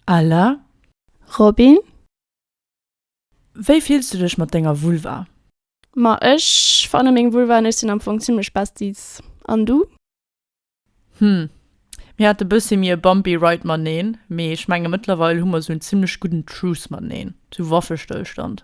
Ella, Robin? Wéi fills du dech mat denger Vulva? Ma ech fanne meng Vulva an ech sinn am Fong zimmlech besties. An du? Hm, mir hate bëssi méi e bumpy ride maneen, mee ech menge mëttlerweil hu mer sou en zimmlech gudden Truce maneen, sou Waffestëllstand.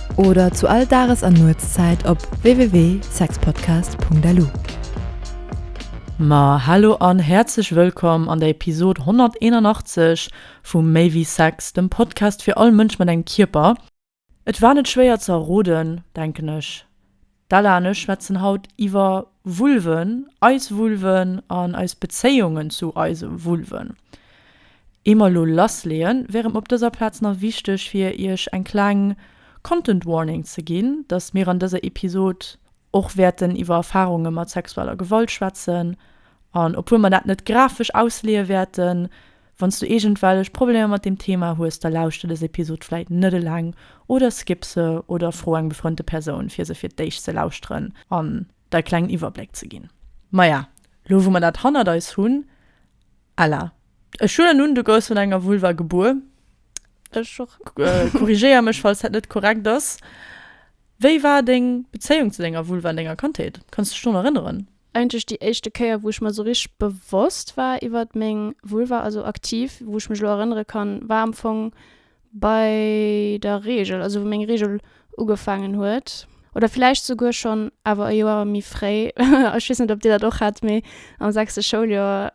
Oder zu all Dages an Nuetszäit op www.sexpodcast.lu. Ma hallo an häerzlech wëllkomm an der Episod 181 vu Méi wéi Sex, dem Podcast fir all Mënsch mat engem Kierper. Et war net schwéier ze erroden, denken ech, D'Ella an ech schwätzen haut iwwer Vulven, eis Vulven an eis Bezéiungen zu eise Vulven. Ier mer elo lassleeën, wäre mer op dëser Plaz nach wichteg fir iech eng kleng Content Warning ze ginn, dass mir an dëser Episod och wäerten iwwer Erfarunge mat sexueller Gewalt schwätzen an obwuel mer dat net grafesch ausleeë wäerten, Wann s du iergendwellech Problemer mat deem Thema hues, da lauschter dës Episod vläit net eleng oder skipp se oder fro eng befrënnte Persoun, fir se fir d'éischt ze lauschteren an der e klengen Iwwerbléck ze ginn. Maja, lo wou mer dat hannert eis hunn, Ella, ech huelen un, du gouss mat enger Vulva gebuer, ech och, korrigéier mech, falls dat net korrekt ass, wéi war deng Bezéiung zu denger Vulva an denger Kandheet? Kanns du dech drun erënneren? Eigentlech déi éischte Kéier, wou ech mer esou richteg bewosst war iwwert meng Vulva, also aktiv, wou ech mech elo erënnere kann, war am Fong bei der Reegel, also wou meng Reegel ugefaangen huet. Oder villäicht souguer schonn awer e Joer méi fréi. Ech weess net, ob Dir dat och hat, mee am sechste Schouljoer.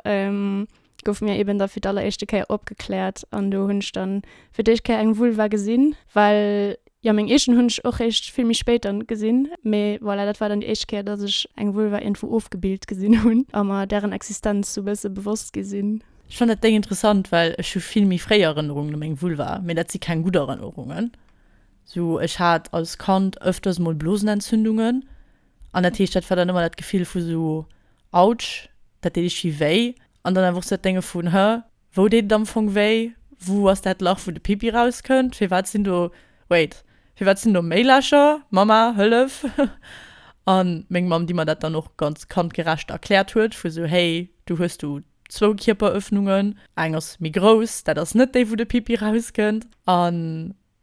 gouf mir eben da fir d'alleréischte Kéier opgekläert an do hunn ech da fir d'éischt Kéier eng Vulva gesinn, well jo meng eegen hunn ech och réischt vill méi spéit dann gesinn. Mee voilà, dat war dann déi éischt Kéier, dass ech eng Vulva iergendwou ofgebild gesinn hunn a mer dären Existenz sou bësse bewosst gi sinn. Ech fannen dat Déng interessant, well ech hu vill méi fréi Erënnerungen u meng Vulva, mee dat si keng gutt Erënnerungen. Sou, ech hat als Kand ëfters mol Blosenentzündungen, An dat heescht, dat war dann ëmmer dat Gefill vu sou, Autsch, dat deet ichtgi wéi. An dann awer och sou dat Dénge vun, Hä, wou deet et am Fong wéi? Wou ass dat Lach, wou de Pipi rauskënnt? Firwat sinn do, wait, firwat sinn do méi Lächer? Mamma, hëllef! A meng Mamm, déi mer dat dann och ganz kandgerecht erkläert huet, vu sou, Hey, do hues du zwou Kierperëffnungen, eng ass méi grouss, dat ass net déi, wou de Pipi rauskënnt. A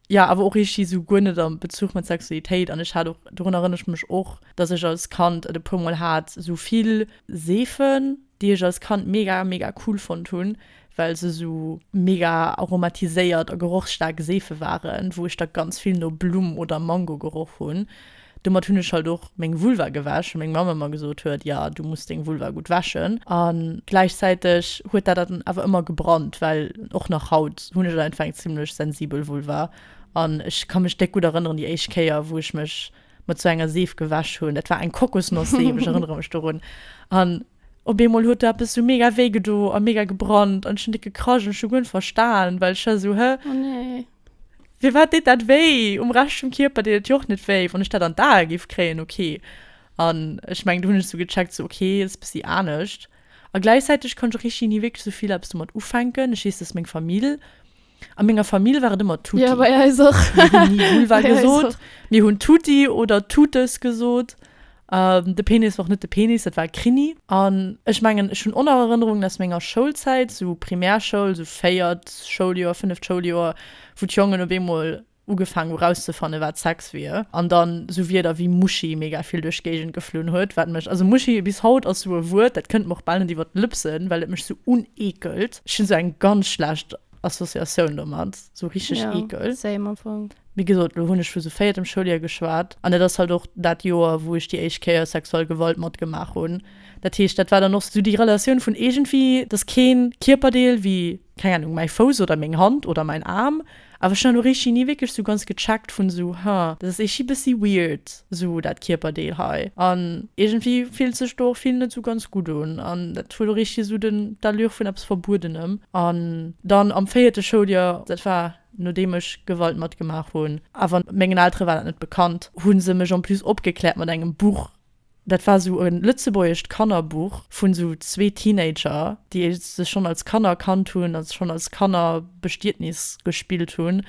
Ja, awer och richteg esou guer net am Bezuch mat Sexualitéit. An ech hat och, dorun erënnere ech mech och, dass ech als Kand et e puer mol hat, esou vill Seefen, déi ech als Kand mega, mega cool fonnt hunn, well se esou mega aromatiséiert a gerochsstaark Seefe waren, wou ech da ganz vill no Blumm oder Mango geroch hunn. Domat hunn ech halt och meng Vulva gewäsch, well meng Mamm ëmmer gesot huet, jo, du muss deng Vulva gutt wäschen. A gläichzäiteg huet dat dann awer ëmmer gebrannt, well och nach haut hunn ech einfach eng zimmlech sensibel Vulva. An ech ka mech déck gutt erënneren, déi éischt Kéier, wou ech mech mat sou enger Seef gewäsch hunn, dat war eng Kokosnoss-Seef, ech erënnere mech dorun, an op eemol huet do eppes sou mega wéi gedo a mega gebrannt an ech hunn déck gekrasch an ech hu guer net verstan, well ech war sou, Hä? Oh nee. Firwat deet dat wéi? Um Rescht vum Kierper deet et jo och net wéi. Wann ech dat an d'Ae géif kréien, ok. An ech mengen, do hunn ech sou gecheckt, sou ok, dat ass e bëssi anescht. A gläichzäiteg kann ech och richteg ni wierklech sou vill eppes domat ufänken. Ech weess, dass meng Famill, a menger Famill war et ëmmer tutti. Jo, bei eis och. Mir hunn ni Vulva gesot, mir hunn tutti oder tutes gesot. De Penis war och net de Penis, dat war e Krini. An ech mengen, ech hunn och nach Erënnerungen aus menger Schoulzäit, sou Primärschoul, sou véiert Schouljoer, fënneft Schouljoer, wou d'Jongen op eemol ugefaang hu rauszefanne wat Sex wier. An dann sou Wierder wéi Muschi mega vill duerch d'Géigend geflunn huet, wat mech, also Muschi bis haut ass sou e Wuert, dat kënnt mer och bal net iwwer d'Lëpsen, well et mech sou uneekelt. Ech hunn sou eng ganz schlecht Associatioun domat, sou richteg ekel. Ja, same am Fong. Wéi gesot, elo hunn ech vu sou véiertem Schouljoer geschwat an dat ass halt och dat Joer, wou ech déi éischt Kéier sexuell Gewalt matgemaach hunn. Dat heescht, dat war dann och sou déi Relatioun vun iergendwéi, dass kee Kierperdeel wéi, keng Anung, mäi Fouss oder meng Hand oder mäin Aarm, awer ech hunn elo richteg ni wierklech sou ganz gecheckt vun sou, haa, dat ass iergendwéi bëssi weird. Sou dat Kierperdeel hei. An iergendwéi fillt sech do och vill net sou ganz gutt un. An dat huet och richteg esou den, d'Allure vun eppes Verbuedenem. An dann am véierte Schouljoer, dat war nodeem ech Gewalt matgemaach hunn, awer mengen Eltere war dat net bekannt, hu se mech en plus opgekläert mat engem Buch. Dat war sou e lëtzebuergescht Kannerbuch vun sou zwee Teenager, déi sech schonn als Kanner kannt hunn a schonn als Kanner Bestietnis gespillt hunn.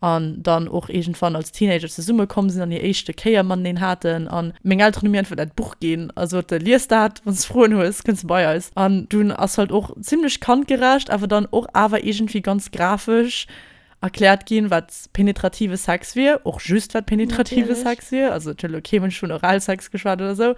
an dann och iergendwann als Teenager zesumme komm sinn an hir éischte Kéier mateneen haten an meng Elteren hu mir einfach dat Buch ginn a sote lies dat, wann s de Froen hues, kënns de bei eis an dunn ass halt och zimmlech kandgerecht awer dann och awer iergendwéi ganz grafesch erkläert ginn, wat penetrative Sex wier, och just wat penetrative Sex wier, also et huet elo kee Mënsch vun Oralsex geschwat oder esou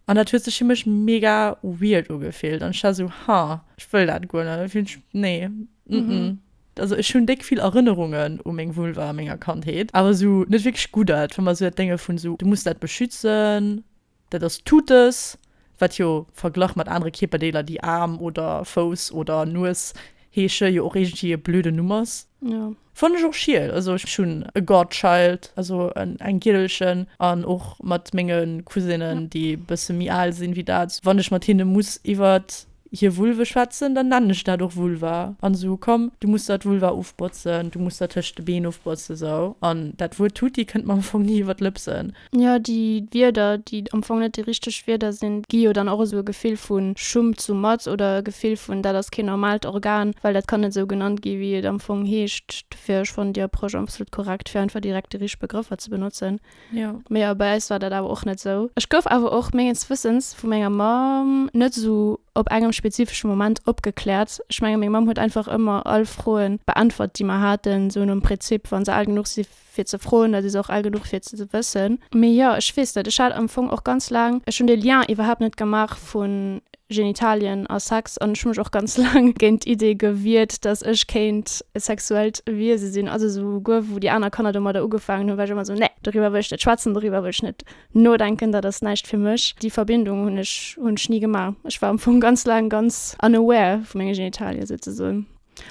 an dat huet sech fir mech mega weird ugefillt an ech war esou, ha, ech wëll dat guer net, et fillt sech, nee, mm. Also ech hun déck vill Erënnerungen u meng Vulva a menger Kandheet, awer esou net wierklech gutt Ert, wa mer esou dat Dénge vun esou, du muss dat beschützen, dat ass Tutes, wat jo verglach mat anere Kierperdeeler, déi Aarm oder Fouss oder Nues heesche, jo och iergendwéi e blöde Numm ass. Jo. Fannen ech och schiel. Also ech hun e Godchild, also eng Giddelchen, an och mat menge Cousinen, déi e bësse méi al sinn wéi dat, wann ech mat hinne muss iwwert hir Vulve schwätzen, dann nennen ech dat och Vulva an sou, komm du muss der d'Vulva ofbotzen, du muss der tëscht de Been ofbotzen, sou. An dat Wuert Tutti kënnt mer am Fong ni iwwer d'Lëpsen. Jo, déi Wierder, déi am Fong net déi richteg Wierder sinn, gi jo dann och esou e Gefill vu Schummt sou mat oder e Gefill vun dat ass keen normaalt Organ, well dat kann net sou genannt gi wéi et am Fong heescht. Dofir, ech fannen déi Approche absolut korrekt, fir einfach direkt déi richteg Begrëffer ze benotzen. Ja. Mee ja, bei eis war dat awer och net esou. Ech gouf awer och mengens Wëssens vu menger Mamm net esou op engem spezifesche Moment opgekläert. Ech menge meng Mamm huet einfach ëmmer all Froe beäntwert, déi mer haten, esou nom Prinzip, wa se al genuch si fir ze froen, da si se och al genuch fir ze wëssen. Mee jo, ech weess net, ech hat am Fong och ganz laang, ech hunn de Lien iwwerhaapt net gemaach vun, Genitalien a Sex an ech hu mech och ganz laang géint d'Idee gewiert, datt ech kéint e sexuellt Wiese sinn. Also souguer wou déi aner Kanner domadder ugefaangen hunn, war ech ëmmer esou, Nee, doriwwer wëll ech net schwätzen, doriwwer wëll ech net nodenken, dat ass näischt fir mech. Déi Verbindung hunn ech ni gemaach. Ech war am Fong ganz laang ganz unaware vu menge Genitalien, souzesoen.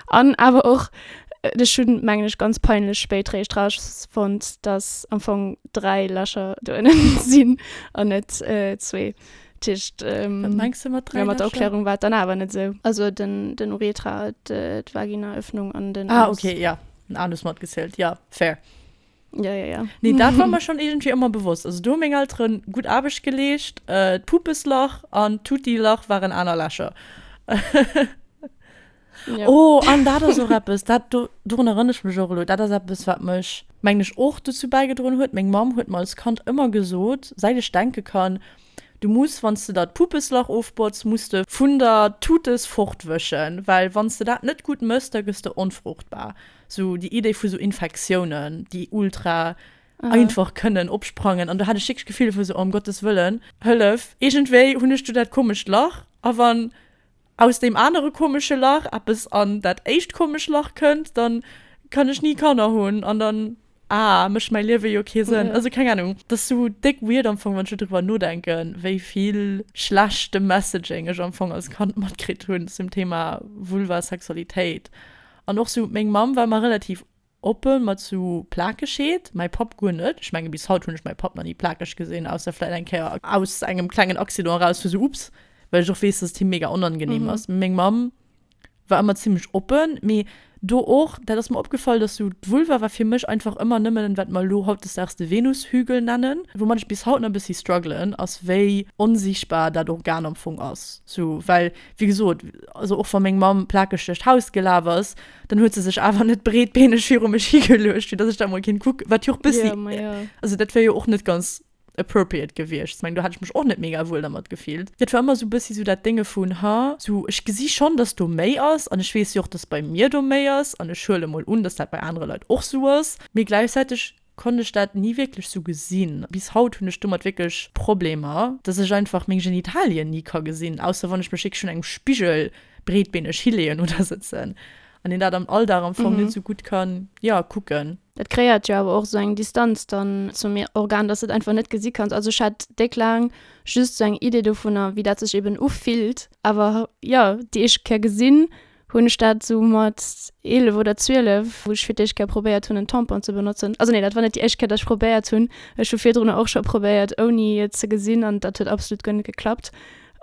An awer och, ech hunn, mengen ech, ganz peinlech spéit réischt rausfonnt, datt am Fong dräi Lächer do ënnen sinn an net zwee. Tiischt, wat mengs de mat dräi Lächer? Mat der Erklärung war et dann awer net esou. Also den den Urethra, d'Vaginaöffnung an den Anus. Ah, okay, jo, den Anus matgezielt, jo, fair. Ja, ja, ja. Nee, dat war mir schon irgendwie ëmmer bewosst. Also do hu meng Eltere gutt Aarbecht geleescht. Äh, d'Pupeslach an d'Tuttilach waren aner Lächer. Ja. Oh, an dat ass och eppes, dat, do, dorun erënner ech mech och elo, dat ass eppes, wat mech, mengen ech, och dozou bäigedroen huet, meng Mamm huet mer als Kand ëmmer gesot, säit ech denke kann, Du muss, wann s de der d'Pupeslach ofbotz, muss de vun der Tutels fortwëschen, well wann s de dat net gutt mëss, da gëss de onfruchtbar. Sou déi Idee vu sou Infektiounen, déi ultra einfach kënnen opsprangen. An do hat ech wierklech d'Gefill vu sou, oh, ëm Gottes Wëllen, hëllef, iergendwéi hunn ech do dat komescht Lach. A wann aus deem anere komesche Lach eppes an dat éischt komescht Lach kënnt, da kann ech ni Kanner hunn an dann. Ah, mécht mäi Liewe jo kee Sënn. Also keng Anung, dat ass esou déck weird am Fong, wann ech esou driwwer nodenken, wéi vill schlechte Messaging ech am Fong als Kand matkritt hunn zum Thema Vulva, Sexualitéit. An och esou, meng Mamm war ëmmer relativ oppe mat esou Plakegkeet, mäi Papp guer net. Ech menge bis haut hunn ech mäi Papp nach ni plakeg gesinn, ausser vläicht eng Kéier aus engem klengen Accident eraus, wou esou, ups, well ech och weess, dass et him mega onangenehm ass. Mee meng Mamm War ëmmer zimlech oppen, mee do och, dat ass mer opgefall, dass sou d'Vulva war fir mech einfach ëmmer nëmmen, wat mer elo hautdesdaags de Venushügel nennen. Woumat ech bis haut nach e bëssi struggelen, ass wéi onsichtbar dat Organ am Fong ass. Sou, well wéi gesot, also och wa meng Mamm plakeg duerch d'Haus gelaf ass, dann huet se sech awer net breetbeeneg viru mech higeluecht, fir dass ech dat mol kéint kucken, wat jo och e bëssi, also dat wär jo och net ganz appropriate gewiescht. Ech meng, do hätt ech mech och net mega wuel dermat gefillt. Et war ëmmer esou e bëssi esou dat Dénge vun, ha, esou, ech gesi schonn, dass do méi ass an ech weess jo och, dass bei mir do méi ass an ech huele mol un, dass dat bei anere Leit och esou ass. Mee gläichzäiteg konnt ech dat ni wierklech esou gesinn. Bis haut hunn ech domat wierklech Problemer, dass ech einfach meng Genitalien ni ka gesinn, ausser wann ech mech wierklech un engem Spigel breetbeeneg hileeën oder sëtzen. an een dat am Alldag am Fong net esou gutt kann, jo, kucken. Dat kreéiert jo awer och esou eng Distanz dann zum Organ, dass de et einfach net gesi kanns. Also ech hat déck laang just esou eng Idee dovunner, wéi dat sech eeben ufillt. Awer jo, déi éischt Kéier gesinn hunn ech dat esou mat 11 oder 12, wou ech fir d'éischt Kéier probéiert hunn en Tampon ze benotzen. Also nee, dat war net déi éischt Kéier, dass ech probéiert hunn. Ech hu virdrunner och scho probéiert ouni et ze gesinn an dat huet absolut guer net geklappt.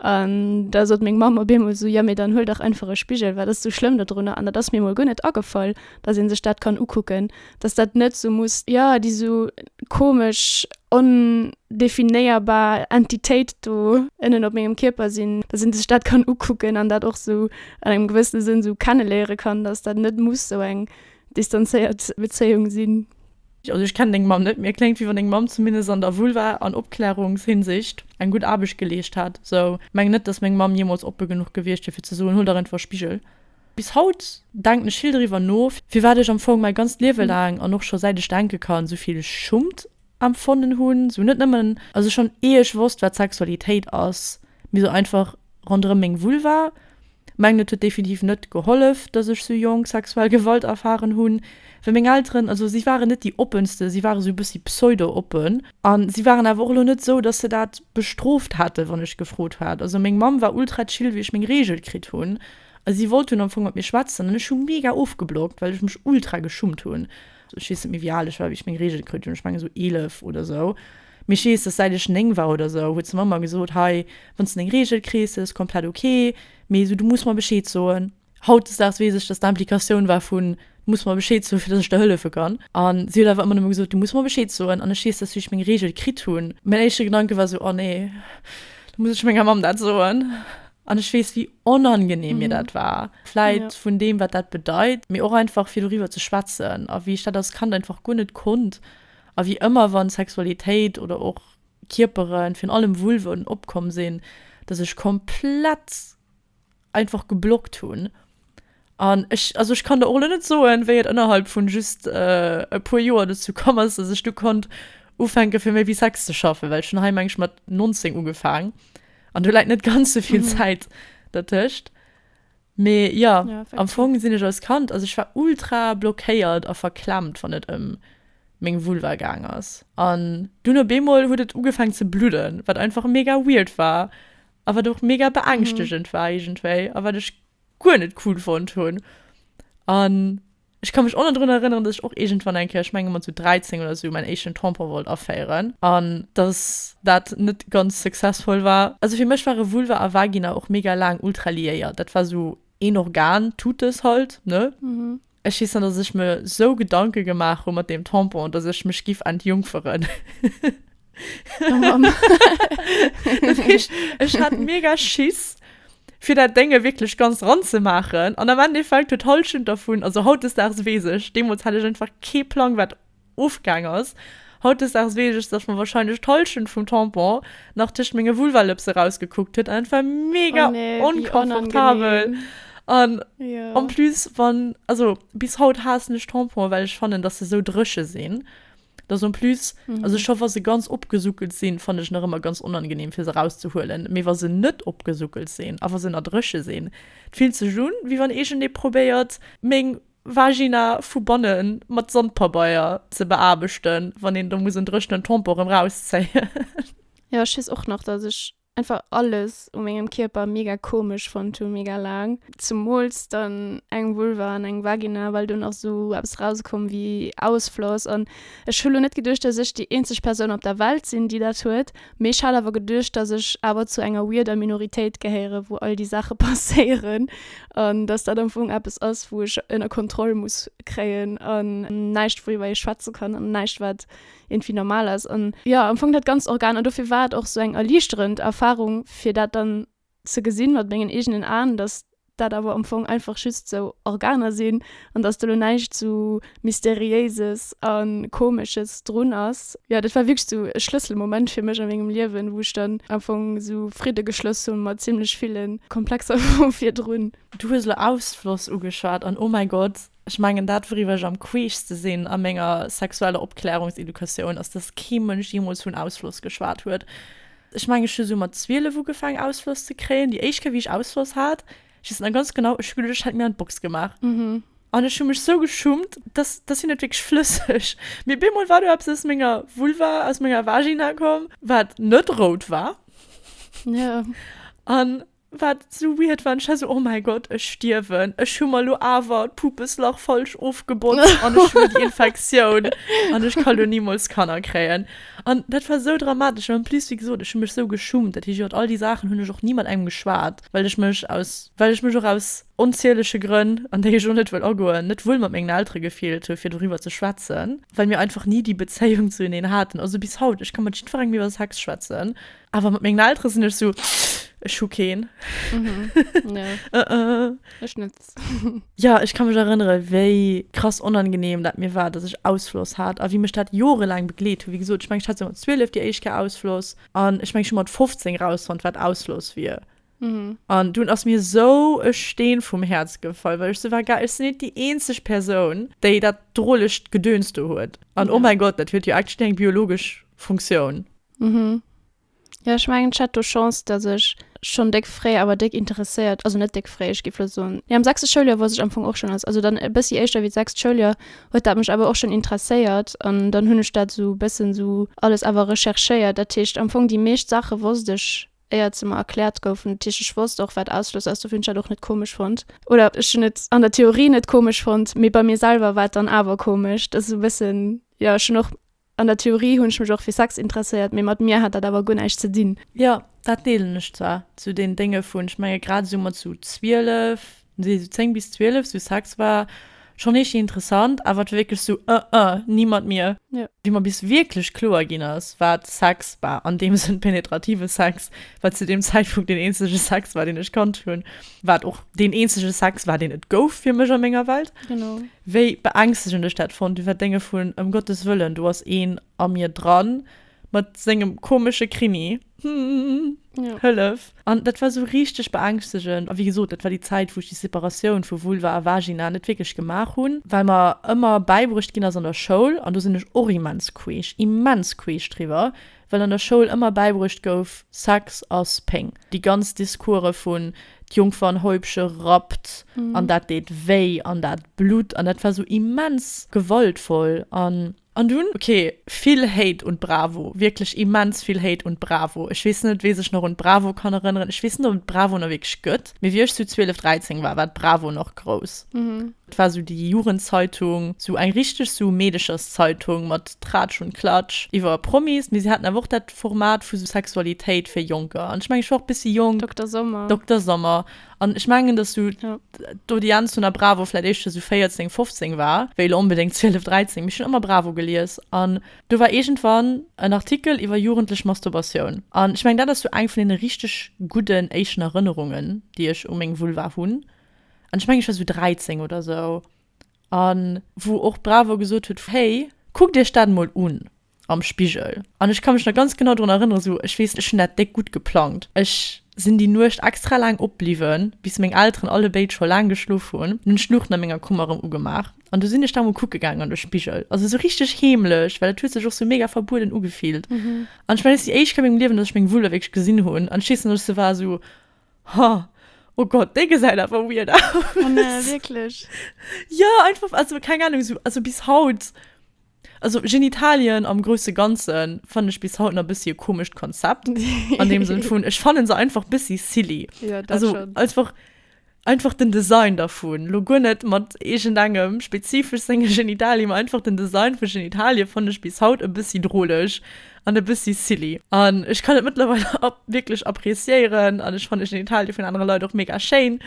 An da sot meng Mamm op eemol esou, 'Jo, mee dann huel dach einfach e Spigel, wat ass esou schlëmm do drunner? An dat ass mir emol guer net agefall, dass ee sech dat kann ukucken, dass dat net esou muss, jo, déi esou komesch ondefinéierbar Entitéit do ënnen op mengem Kierper sinn, dass ee sech dat kann ukucken an dat och esou an engem gewëssene Sënn esou kenneléiere kann, dass dat net muss esou eng distanzéiert Bezéiung sinn. Also ech kennen deng Mamm net, mee kléngt wéi wann deng Mamm zumindest an der Vulva an Opklärungshinsicht eng gutt Aarbecht geleescht hätt sou. Mengen net dass meng Mamm jemols oppe genuch gewiescht wier fir ze soen, huel der einfach e Spigel. Bis haut denken ech vill driwwer no firwat ech am Fong mäi ganzt Liewe laang an och scho säit ech denke kann souvill Schummt empfonnen hunn, sou net nëmmen also schonn ier ech wosst wat Sexualitéit ass, mee sou einfach ronderëm meng Vulva. Mengen et huet definitiv net gehollef dass ech sou jonk sexuell Gewalt erfaren hunn, well meng Elteren, also si waren net déi oppensten, si ware sou e bëssi pseudo oppen an si waren awer och elo net sou dass se dat bestrooft hätten wann ech gefrot hat. Also meng Mamm war ultra chill wéi ech meng Regel kritt hunn a si wollt hunn am Fong mat mir schwätzen an ech hu mega ofgeblockt well ech mech ultra geschummt hunn. Ech weess net méi wéi al ech war wéi ech meng Regel kritt hunn, ech mengen sou 11 oder sou. Mee ech weess, dass säit ech 9 war oder sou, huet se mer ëmmer gesot, Hei, wann s de deng Reegel kriss, ass komplett ok, mee sou, du muss mer Bescheed soen. Hautdesdaags weess ech, dass d'Implikatioun war vun, Du muss mer Bescheed soen, fir dass ech der hëllefe kann. An si huet awer ëmmer nëmme gesot, Du muss mer Bescheed soen. An ech weess, dass wéi ech meng Reegel kritt hunn, mäin éischte Gedanke war sou, Oh nee, da muss ech menger Mamm dat soen. An ech weess, wéi onangeneem mir dat war. Vläit vun deem, wat dat bedeit, mee och einfach fir doriwwer ze schwätzen. A wéi ech dat als Kand einfach guer net konnt, A wéi ëmmer wann Sexualitéit oder och Kierperen, virun allem Vulven, opkomm sinn, dass ech komplett einfach geblockt hunn. An ech, also ech kann der och elo net soen, wéi et ënnerhalb vun just e puer Joer dozou komm ass, dass ech du konnt ufänke fir méi wéi Sex ze schaffen, well ech hunn hei meng ech mat 19 ugefaang an do läit net ganz sou vill Zäit dertëscht. Mee jo, am Fong sinn ech als Kand, also ech war ultra blockéiert a verklemmt wann et ëm meng Vulva gaang ass. An dunn op eemol huet et ugefaang ze bludden, wat einfach mega weird war a wat och mega beängschtegend war iergendwéi a wat ech guer net cool fonnt hunn. An Ech ka mech och nach drun erënneren, dass ech och iergendwann eng Kéier, ech menge mer zu 13 oder esou, mäin éischten Tampon wollt aféieren an dass dat net ganz successful war. Also fir mech ware Vulva a Vagina och mega laang ultra liéiert. Dat war esou een Organ, Tutes halt, ne? Ech weess nach, dass ech mer esou Gedanke gemaach hu mat deem Tampon, dass ech mech giff entjungferen. Ech hat mega Schiss fir dat Dénge wierklech ganz dran ze maachen an am Endeffekt huet d'Hallschent dervun, also hautdesdaags weess ech, deemools hat ech einfach kee Plang wat ofgaang ass, hautdesdaags weess ech, datt mer wahrscheinlech d'Hallschent vum Tampon nach tëscht menge Vulvalëpse rausgekuckt huet an et war mega onkomfortabel an en plus wann, also bis haut haassen ech Tamponen, well ech fannen, datt se esou dréche sinn. Dass en plus, also scho wa se ganz opgesuckelt sinn, fannen ech nach ëmmer ganz onangenehm fir se erauszehuelen, mee wa se net opgesuckelt sinn a wa se nach dréche sinn, et fillt sech un wéi wann iergendee probéiert meng Vagina vu banne mat Sandpabeier ze beaarbechten, wann een do muss en dréchenen Tampon erëm rauszéien. Jo, ech weess och nach, dass ech einfach alles u mengem Kierper mega komesch fonnt hu mega laang, zemools dann eng Vulva an eng Vagina, well do nach sou eppes rauskoum wéi Ausfloss an ech hu lo net geduecht, datt ech déi eenzeg Persoun op der Welt sinn, déi dat huet, mee ech hat awer geduecht, datt ech awer zu enger weirder Minoritéit gehéiere wou all déi Saache passéieren an datt dat am Fong eppes ass wou ech ënner Kontroll muss kréien an näischt woriwwer ee schwätze kann an näischt wat irgendwie normal ass an jo am Fong dat ganz Organ an dofir war et och sou eng erliichterend Erfahrung fir dat dann ze gesinn mat mengen eegenen Aen, dass dat awer am Fong einfach just sou Organer sinn an dass do lo näischt sou Mysteriéises a Komesches drun ass. Jo dat war wierklech sou e Schlësselmoment fir mech a mengem Liewen, wou ech dann am Fong sou Fridde geschloss hu mat zimlech ville Komplexer vu virdrun. Du hues elo Ausfloss ugeschwat an oh mäi Gott! Ech mengen, dat wouriwwer ech am queeschste sinn a menger sexueller Opklärungsedukatioun, ass dass kee Mënsch jeemools vun Ausfloss geschwat huet. Ech mengen, ech hu sou mat 12 ugefaangen Ausfloss ze kréien. Déi éischt Kéier wéi ech Ausfloss hat, ech weess et nach ganz genau, ech hu geduecht, ech hätt mir an d'Box gemaach an ech hu mech sou geschummt, dass dass hien et wierklech flësseg, mee op eemol war do eppes aus menger Vulva, aus menger Vagina komm, wat net rout war an Wat sou weird war, ech war sou, oh mäi Gott, ech stierwen, ech hu mer lo awer d'Pupeslach falsch ofgebotzt an ech hu déi Infektioun an ech ka lo nimools Kanner kréien. An dat war sou dramatesch an en plus, wéi gesot, ech hu mech sou geschummt, dat heescht, iwwert all déi Saachen hunn ech och ni mat engem geschwat, well ech mech aus, well ech mech och aus onzieleche Grënn, an déi ech och net wëll agoen, net wuel mat mengen Eltere gefillt hu fir doriwwer ze schwätzen, well mir einfach ni déi Bezéiung zueneen haten. Also bis haut, ech ka mat jiddwerengem iwwer Sex schwätzen. Awer mat mengen Eltere sinn ech sou, ech hu keen. Mhm. Ja. uh -uh. Ech net. ja, ech kann mech erënnere wéi krass onangenehm dat mir war, datt ech Ausfloss hat a wéi mech dat jorelaang begleet hu. Wéi gesot, ech meng ech hat sou mat 12 déi éischt Kéier Ausfloss an ech meng ech hu mat 15 rausfonnt wat Ausfloss wier. Mhm. An dun ass mir sou e Steen vum Häerz gefall, well ech sou war, geil, ech sinn net déi eenzeg Persoun, déi dat drolegt Gedöns do huet. An oh Ja. mäi Gott, dat huet jo actually eng biologesch Funktioun. Mhm. Jo ech mengen ech hat do Chance dass ech schon déck fréi awer déck interesséiert, also net déck fréi ech géif lo soen jo am sechste Schouljoer wousst ech am Fong och schon als also dann e bëssi éischter wéi d'sechst Schouljoer huet dat mech awer och schon interesséiert an dann hunn ech dat sou bëssen sou alles awer recherchéiert dat heescht am Fong déi meescht Saache wousst ech éiert se mer erkläert goufen dat heescht ech wousst och wat Ausschloss ass dofir hunn ech dat och net komesch fonnt oder ech hunn et an der Theorie net komesch fonnt mee bei mir selwer war et dann awer komesch dass sou bëssen jo ech hunn och An der Theorie hunn ech mech och fir Sex interesséiert, mee mat mir hat dat awer guer näischt ze dinn. Jo, dat deelen ech zwar. Zu den Dénge vun, ech menge grad esou mat esou 12, nee esou 10 bis 12, esou Sex war schonn eescht interessant, awer et war wierklech esou, ëh ëh, ni mat mir. Jo. Wéi mer bis wierklech kloer ginn ass, wat Sex war, an deem Sënn penetrative Sex, wat zu deem Zäitpunkt deen eenzege Sex war, deen ech kannt hunn, wat och deen eenzege Sex war, deen et gouf fir mech a menger Welt. Genau. Wéi beängstegend ech dat fonnt, iwwer Dénge vun, ëm Gottes Wëllen, do ass een a mir dran mat sengem komesche Krini, ja. Hëllef! An dat war esou richteg beängstegend. A wéi gesot, dat war déi Zäit, wou ech déi Separatioun vu Vulva a Vagina net wierklech gemaach hunn, well mer ëmmer bäibruecht ginn ass an der Schoul, an do sinn ech och immens queesch, immens queesch driwwer, Well an der Schoul ëmmer bäibruecht gouf, Sex ass Péng. Déi ganz Discourse vun, d'Jungfernhäubche rappt an dat deet wéi an dat blutt an dat war sou immens gewaltvoll an. An dunn, ok, vill Hate un d'Bravo, wierklech immens vill Hate un d'Bravo. Ech weess net, wee sech nach un d'Bravo kann erënneren. Ech weess net, ob et d'Bravo nach wierklech gëtt, mee wéi ech sou 12, 13 war, war d'Bravo nach grouss. 't war sou déi Jugendzeitung, sou eng richteg sou Meedecherszeitung mat Tratsch und Klatsch iwwer Promis, mee si haten awer och dat Format vu sou Sexualitéit fir Jonker an ech mengen ech war och bëssi jonk. Dokter Sommer. Dokter Sommer an ech mengen dass sou d'Audienz vun der Bravo vläit éischter sou 14, 15 war wéi elo onbedéngt 12, 13, mee ech hunn ëmmer Bravo gelies an do war iergendwann en Artikel iwwer jugendlech Masturbatioun an ech mengen dat ass sou eng vun deene richteg gudden éischten Erënnerungen déi ech u meng Vulva hunn. an ech mengen ech war sou 13 oder sou, an wou och Bravo gesot huet, hey kuckt iech dat mol un am Spigel, an ech ka mech nach ganz genau drun erënneren, sou ech weess ech hunn dat déck gutt geplangt, ech sinn déi Nuecht extra laang opbliwwen bis meng Elteren allebéid scho laang geschlof hunn, an hunn d'Luuchten a menger Kummer erëm ugemaach, an du sinn ech da mol kucke gaangen an de Spigel, also sou richteg heemlech, well et huet sech och sou mega verbueden ugefillt, an ech mengen dat ass déi éischt Kéier a mengem Liewen, datt ech meng Vulva wierklech gesinn hunn, an ech weess nach, datt ech sou war, sou Ha, oh Gott, déi gesäit awer weird aus. Oh nee, wierklech? Ja, einfach, also keng Ahnung, so, also bis haut, also Genitalien am grousse Ganze fannen ech bis haut nach bëssi e komescht Konzept, an deem Sënn vun, ech fanne se einfach bëssi silly. Ja, dat Also schonn. einfach, einfach den Design dervun. Lo guer net mat iergendengem spezifesch senge Genitalie, mä einfach den Design vu Genitalie fanne ech bis haut e bëssi droleg. an e bëssi silly an ech kann et mëttlerweil ab wierklech appréciéieren an ech fannen den Detail vun anere Leit och mega schéin,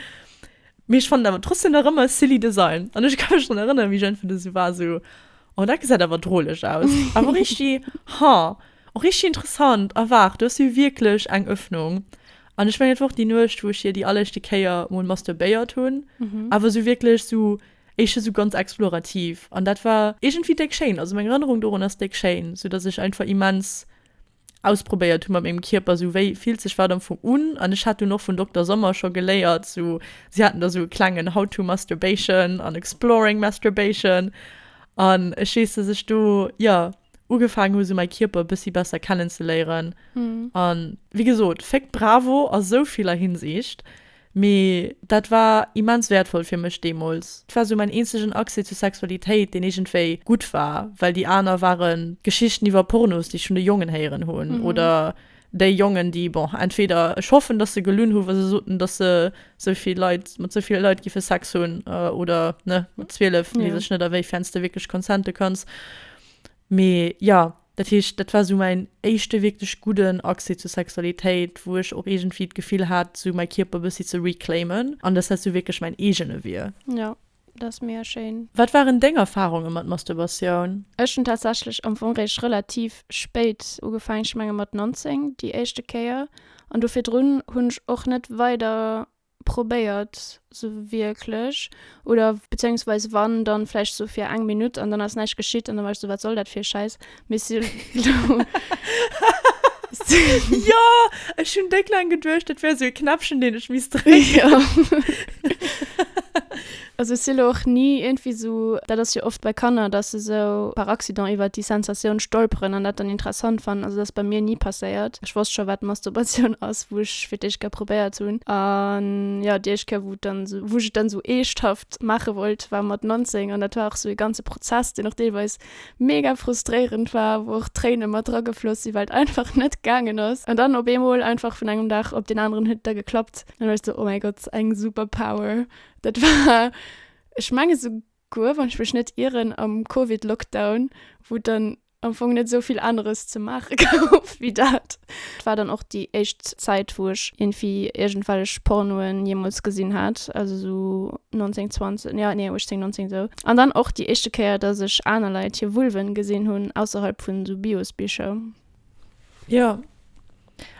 mee ech fannen awer trotzdem nach ëmmer e silly Design an ech ka mech drun erënneren wéi ech entweder esou war esou oh dat gesäit awer droleg aus awer rischti ha och rischti interessant a waart do ass jo wierklech eng Öffnung an ech mengen et war och déi Nuecht wou ech hir déi alleréischte Kéier mol masturbéiert hunn awer esou wierklech esou. Éischt esou ganz explorativ an dat war iergendwéi déck schéin. Also meng Erënnerung dorun ass déck schéin, sou datt ech einfach immens ausprobéiert hu mat mengem Kierper, sou wéi fillt sech wat am Fong un. An ech hat dunn och vun Dokter Sommer scho geléiert, sou si haten da sou e klengen How to Masturbation an Exploring Masturbation an ech weess, datt ech do jo ugefaangen hu sou mäi Kierper e bëssi besser kennenzeléieren. An wéi gesot, Féck bravo a sou viller Hinsiicht. Mee dat war immens wäertvoll fir mech deemools. Et war sou mäin eenzegen Accès zur Sexualitéit, deen iergendwéi gutt war, well déi aner waren Geschichten iwwer Pornos, déi ech vun de Jongen héieren hunn, oder déi Jongen, déi, bon, entweder, ech hoffen, datt se gelunn hu wa se soten, datt se sou vill Leit, mat sou ville Leit giffe Sex hunn, oder, ne, mat 12 weess ech net, a wéifern s de wierklech consente kanns. Mee jo, Dat heescht, dat war esou mäin éischte wierklech gudden Accès zur Sexualitéit, wou ech och iergendwéi d'Gefill hat, esou mäi Kierper e bëssi ze reclaimen an dass dat esou wierklech mäin eegene wier. Jo, dat ass mega schéin. Wat waren deng Erfarunge mat Masturbatioun? Ech hunn tatsächlech am Fong réischt relativ spéit ugefaangen, ech menge mat 19 déi éischte Kéier, an do virdrun hunn ech och net weider probéiert sou wierklech oder bezéiungsweise wann dann vläicht sou fir eng Minutt an dann ass näischt geschitt an dann war ech sou wat soll dat fir e Schäiss mee si hunn Jo ech hunn déck laang geduecht dat wär sou e Knäppchen deen ech misst drécken. Also ech si lo och ni iergendwéi sou, dat ass jo oft bei Kanner, dass se sou par accident iwwert déi Sensatioun stolperen an dat dann interessant fannen. Also dat ass bei mir ni passéiert. Ech wosst scho wat Masturbatioun ass, wou ech fir d'éischt Kéier probéiert hunn. A jo, déi éischt Kéier wou et dann sou, wou ech et dann sou eeschthaft maache wollt, war mat 19 an dat war och sou ee ganze Prozess, deen och deelweis mega frustréierend war, wou och Tréine mat dra gefloss si well et einfach net gaangen ass. An dann op eemol einfach vun engem Dag op deen aneren huet et da geklappt. An da war ech sou, oh mäi Gott, eng Superpower. Dat war, ech mengen esouguer, wann ech mech net ieren, am Covid-Lockdown, wou et dann am Fong net esou vill aneres ze maache gouf wéi dat. Et war dann och déi éischt Zäit, wou ech iergendwéi iergendwellech Pornoen jeemools gesinn hat, also esou 19, 20, jo, nee, 18, 19 esou. An dann och déi éischte Kéier, dass ech aner Leit hir Vulven gesinn hunn, ausserhalb vun esou Biosbicher. Jo,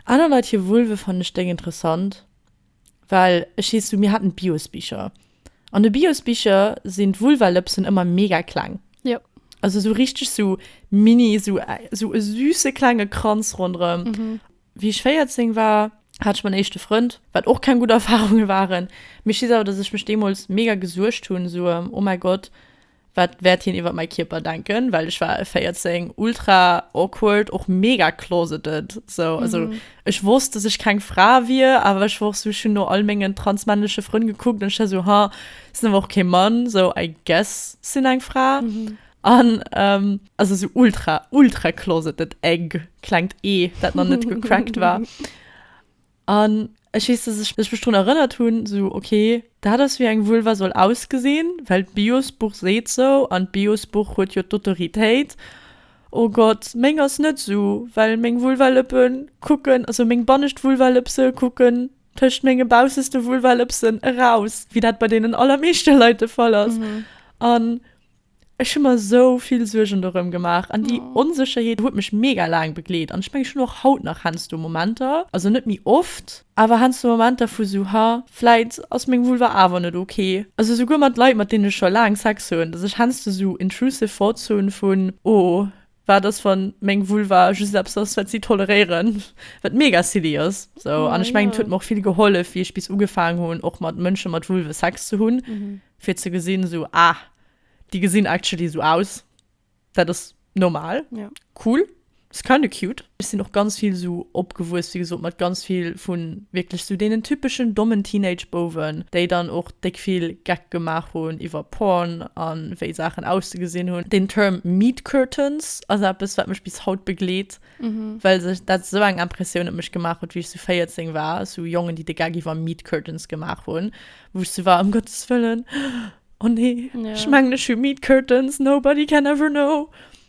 aner Leit hir Vulve fannen ech déck interessant. Well ech hees du, mir haten d'Biosbicher. An de Biosbicher sinn d'Vulvalëpsen ëmmer mega kleng. Jo. Also esou richteg esou mini, esou esou e süße klenge Kranz ronderëm. Wéi ech 14 war, hat ech mäin éischte Frënd, wat och keng gutt Erfarunge waren. Mee ech weess awer, dass ech mech deemools mega gesuergt hunn, esou, oh mäi Gott, Wat wäert hien iwwer mäi Kierper denken? Well ech war 14, ultra awkward, och mega closeted sou. Also ech wosst, dass ech keng Fra wier, awer ech war och sou, ech hunn no all mengen transmännleche Frënn gekuckt an ech war sou, ha, sinn awer och kee Mann, sou I guess sinn eng Fra. An also sou ultra, ultra closeted egg, klengt e, dat nach net gecrackt war. An ech weess, dass ech mech drun erënnert hunn, esou, okay, dat ass wéi eng Vulva soll ausgesinn, well d'Biosbuch seet esou an d'Biosbuch huet jo d'Autoritéit. Oh Gott, meng ass net esou, well meng Vulvalëppe kucken, also meng bannescht Vulvalëpse kucken tëscht menge bausseste Vulvalëpsen eraus, wéi dat bei deenen allermeeschte Leit de Fall ass. An Ech hu mer sou vill Suergen dorëm gemaach an déi Onsécherheet huet mech mega laang begleet. An ech mengen, ech hunn och haut nach heiansdo Momenter, also net méi oft, awer heiansdo Momenter vu sou, ha, vläit ass meng Vulva awer net ok. Also souguer mat Leit, mat deenen ech scho laang Sex hunn, dass ech heiansdo sou intrusive thoughts hunn vun, oh, Wat ass wann meng Vulva just eppes ass wat si toleréieren? Wat mega silly ass sou. An ech mengen et huet mer och vill gehollef wéi ech bis ugefaangen hunn och mat Mënsche mat Vulve Sex ze hunn fir ze gesinn esou ah déi gesinn actually esou aus, dat ass normal, cool, is kinda cute. Ech sinn och ganz vill esou opgewuess, wéi gesot, mat ganz vill vu wierklech esou deenen typeschen dommen Teenage-Bouwen, déi dann och déck vill Geck gemaach hunn iwwer Porn a wéi Saachen auszegesinn hunn. Den Term Meat Curtains ass eppes, wat mech bis haut begleet, well sech dat esou eng Impressioun op mech gemaach huet, wéi ech esou 14 war, esou Jongen, déi de Geck iwwer Meat Curtains gemaach hunn, wou ech esou war, ëm Gottes wëllen, oh nee, ech mengen, ech hu Meat Curtains, nobody can ever know.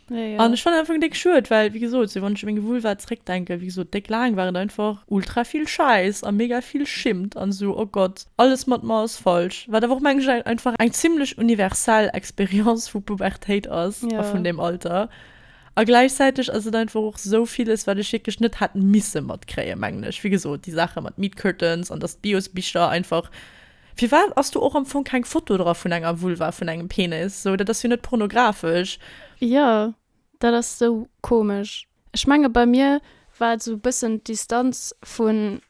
Nee, ja. An ech fannen einfach déck schued, well wéi gesot, sou wann ech u meng Vulva zréckdenken, wéi gesot, déck laang war et einfach ultra vill Schäiss a mega vill Schimmt an esou, oh Gott, alles mat mer ass falsch. Wat awer och mengen ech einfach eng zimlech universell Experience vu Pubertéit ass a vun deem Alter. A gläichzäiteg ass et einfach och esou villes, wat ech wierklech net hätt misse matkréien, mengen ech. Wéi gesot, déi Saache mat Meat Curtains an dass d'Bios-Bicher einfach Firwat ass do och am Fong keng Foto dra vun enger Vulva, vun engem Penis? Sou, dat ass jo net pornografesch. Jo, dat ass sou komesch. Ech menge bei mir war et sou bëssen d'Distanz vun,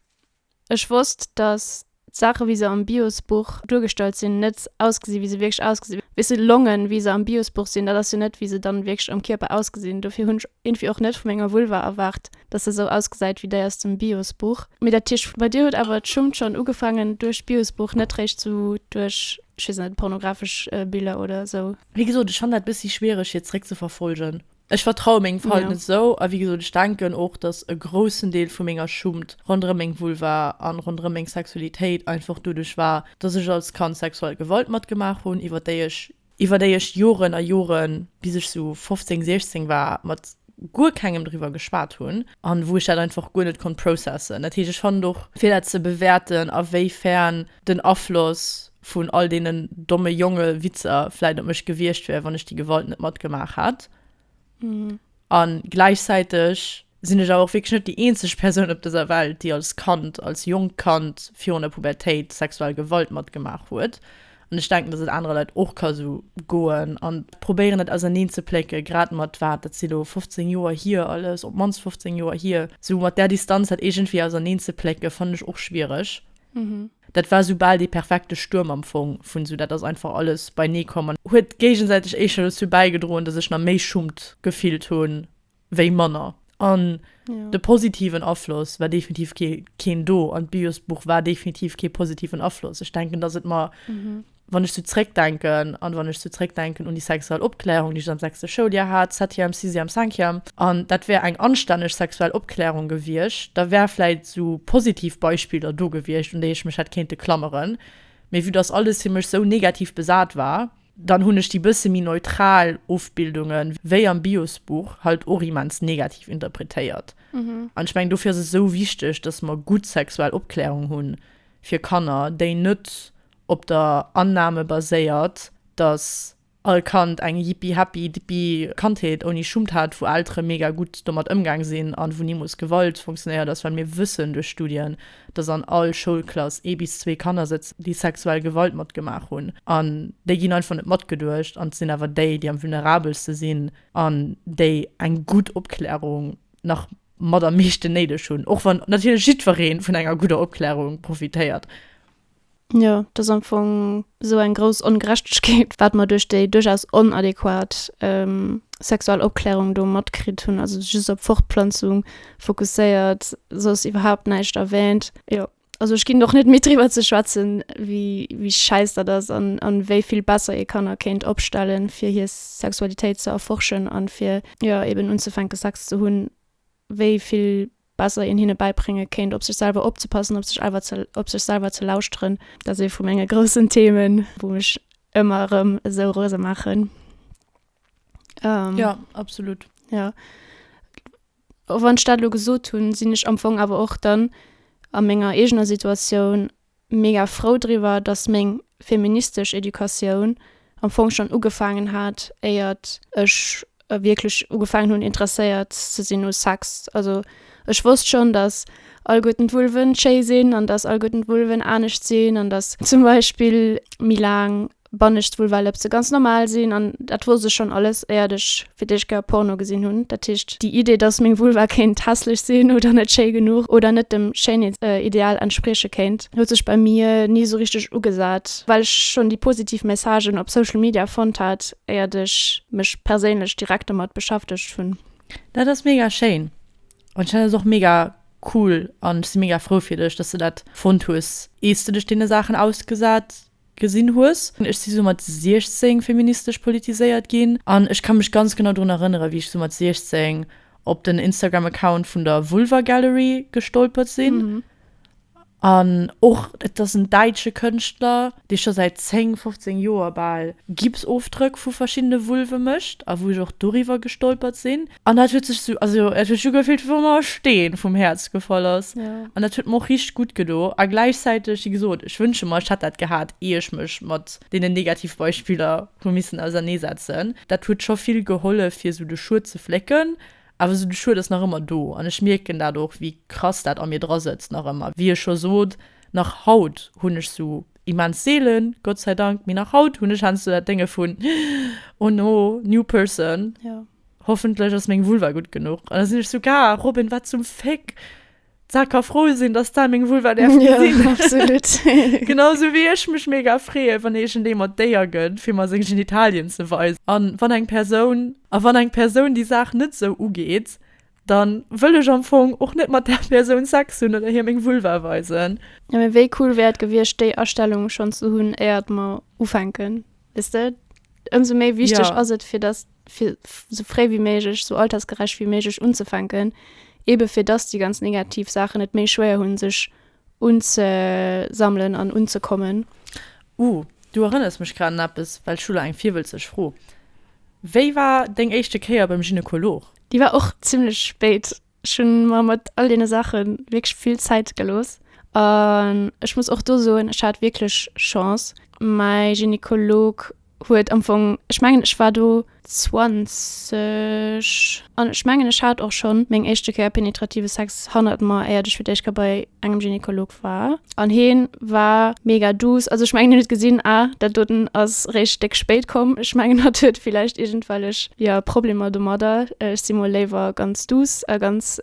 ech wosst, datt d'Saache wéi se am Bios-Buch duergestallt sinn, net ausgesi wéi se wierklech ausgesinn. Weess de, d'Longen wéi se am Bios-Buch sinn, dat ass jo net wéi se dann wierklech am Kierper ausgesinn. Dofir hunn ech irgendwie och net vu menger Vulva erwaart, dass se sou ausgesait wéi dei aus dem Biosbuch. Mee dat heescht bei dir huet awer d'Schummt schon ugefangen duerch d'Biosbuch, net réischt sou duerch, ech wees net, pornografesch Biller oder sou? Wéi gesot, ech fannen dat bessi schwiereg hir zréck ze verfolgen. Ech vertraue mengem Verhalten net sou, a wéi gesot, ech denken och dass e groussen Deel vu menger Schummt ronderëm meng Vulva an ronderëm meng Sexualitéit einfach doduerch war dass ech als Kand sexuell Gewalt matgemaach hunn iwwert déi ech iwwer déi ech Joren a Joren, bis ech sou 15, 16 war, mat guer kengem driwwer geschwat hunn a wou ech dat einfach guer net konnt processen. Dat heescht, ech fannen och, fir dat ze bewäerten, a wéi fern den Afloss vun all deenen domme Jonge-Witzer vläit op mech gewiescht wär, wann ech déi Gewalt net matgemaach hätt, Mhm. An gläichzäiteg sinn ech awer och wierklech net déi eenzeg Persoun op dëser Welt, déi als Kand, als jonkt Kand virun der Pubertéit sexuell Gewalt matgemaach huet. An ech denken, dass et anere Leit och ka sou goen an probéieren et auserneen ze plécke grad mat, wat, dat si lo 15 Joer hier alles, op d'mannst 15 Joer hier, sou mat där Distanz dat iergendwéi auserneen ze plécke fannen ech och schwiereg. Mhm. Dat war sou bal dee perfekte Stuerm am Fong vun sou, dat ass einfach alles beinee komm an huet géigesäiteg éischter dozou bäigedroen, dass ech nach méi Schummt gefillt hu wéi manner. An de positiven Afloss war definitiv keen do an d'Biosbuch war definitiv kee positiven Afloss. Ech denken, dass et mer Wann ech sou zréckdenken an wann ech sou zréckdenken un déi sexuell Opklärung, déi ech am sechste Schouljahr hat, septième, sixième, cinquième, an dat wär eng anstänneg sexuell Opklärung gewiescht, da wäre vläit sou positiv Beispiller do gewiescht, un déi ech mech hätt kéinte klameren. Mee vue dass alles fir mech sou negativ besat war, dann hunn ech déi bësse méi neutral Ofbildunge wéi am Bios-Buch halt och immens negativ interpretéiert. An ech mengen, dofir ass et sou wichteg, dass mer gutt sexuell Opklärung hunn fir Kanner, déi net op der Annahme baséiert, dass all Kand eng jippi-happi-dippi Kandheet ouni Schummt hat, wou Eltere mega gutt domat ëmgaang sinn an wou nimools Gewalt funktionéiert ass, well mir wëssen duerch Studien, dass an all Schoulklass ee bis zwee Kanner sëtzen, déi sexuell Gewalt matgemaach hunn an déi ginn einfach net matgeduecht an et sinn awer déi, déi am vulnerabelste sinn an déi eng gutt Opklärung nach mat am meeschten néideg hunn, och wann natierlech jiddweree vun enger gudder Opklärung profitéiert. Jo, et ass am Fong esou eng grouss Ongerechtegkeet, wat mer duerch déi duerchaus onadequat sexuell Opklärung do matkritt hunn. Also just op Fortplanzung fokusséiert, soss iwwerhaupt näischt erwähnt. Jo, also ech ginn och net midd driwwer ze schwätzen, wéi schäiss dat ass an wéi vill besser ee Kanner kéint opstellen, fir hir Sexualitéit ze erforschen an fir, jo, eben unzefänken Sex ze hunn, wéi vill besser een hinne bäibrénge kéint, op sech selwer opzepassen, op sech elwer ze op sech selwer ze lauschteren. Dat ass ee vu menge groussen Themen, wou mech ëmmer erëm esou rose maachen. Ähm, Ja, absolut. ja. Och wann ech dat elo gesot hunn, sinn ech am Fong awer och dann a menger eegener Situatioun, mega frou driwwer, dass meng feministesch Educatioun am Fong schonn ugefaangen hat, éiert ech wierklech ugefaangen hunn, interesséiert ze sinn u Sex. Also ech wosst schonn, dass allguerten d'Vulven schéi sinn an dass allguerten d'Vulven anescht sinn an dass zum Beispill méi laang Bannescht wou well eppse ganz normal sinn an dat wosst ech schonn alles éiert ech fir d'éischt Kéier Porno gesinn hunn. Dat heescht déi Idee dass meng Vulva kéint hässlech sinn oder net schéi genuch oder net dem Schéinheetsideal entsprieche kéint huet sech bei mir ni sou richteg ugesat well ech schonn déi positiv Messagen op Social Media fonnt hat éiert ech mech perséinlech direkt domat beschäftegt hunn. Dat ass mega schéin an ech fannen dat och mega cool an ech si mega frou fir dech dass de dat fonnt hues iers de dech deene Saachen ausgesat gesinn hues. Ech si sou mat 16 feministesch politiséiert ginn an ech ka mech ganz genau drun erënnere wéi ech sou mat 16 op den Instagram Account vun der Vulva Gallery gestolpert sinn an och et ass en däitsche Kënschtler dee scho säit 10, 15 Joer bal Gipsofdrëck vu verschiddene Vulve mécht a wou ech och doriwwer gestolpert sinn An dat huet sech so, also et huet scho gefillt wéi wa mer e Steen vum Häerz gefall ass. Ja. An dat huet mer och richteg gutt gedo. A gläichzäiteg, wéi gesot, ech wënsche mer, ech hätt dat gehat, ier ech mech mat deenen Negativbeispiller hu missen auserneesetzen. Dat huet scho vill gehollef fir esou de Schued ze flécken. Awer esou de Schued ass nach ëmmer do. An ech mierken dat och, wéi krass dat a mir dra sëtzt nach ëmmer. Wéi ech scho sot, nach haut hunn ech esou, immens seelen, Gott sei Dank, mee nach haut hunn ech heiansdo dat Dénge vun, Oh no, new person. Ja. Hoffentlech ass meng Vulva gutt genuch. An da sinn ech sou, Ga, Robin, wat zum Féck? D'Sa ka frou sinn, dass d'Sa meng Vulva däerf gesinn. Jo, absolut. Genau sou wéi ech mech mega freeë wann iergendee mer d'Éier gëtt, fir mer seng Genitalien ze weisen. A wann eng Persoun, a wann eng Persoun déi Saach net sou ugeet, da wëll ech am Fong och net mat där Persoun Sex hunn oder hir meng Vulva weisen. Jo, mee wéi cool wär et gewiescht, déi Astellung schonn ze hunn, éiert mer ufänken, weess de? Ëmsou méi wichteg ass et, fir dass fir sou fréi wéi méiglech, sou altersgerecht wéi méiglech unzefänken, ebe fir dass déi ganz negativ Saachen et méi schwéier hunn, sech unzesammelen an unzekommen. Uh, du erënners mech grad un eppes, well ech hu lo eng virwëlzeg Fro. Wéi war deng éischte Kéier beim Gynekolog? Déi war och zimmlech spéit. Ech hunn mer mat all deene Saache wierklech vill Zäit gelooss an ech muss och do soen, ech hat wierklech Chance. Mäi Gynekolog huet am Fong, ech mengen ech war do 20 an ech mengen ech hat och schonn meng éischte Kéier penetrative Sex hannert mer, éiert ech fir d'éischt Kéier bei engem Gynekolog war. An heen war mega duuss. Also ech mengen hien huet gesinn ah dat doten ass réischt déck spéit komm. Ech mengen hatt huet villäicht iergendwellech jo Problemer domadder. Ech si mol léiwer ganz duuss a ganz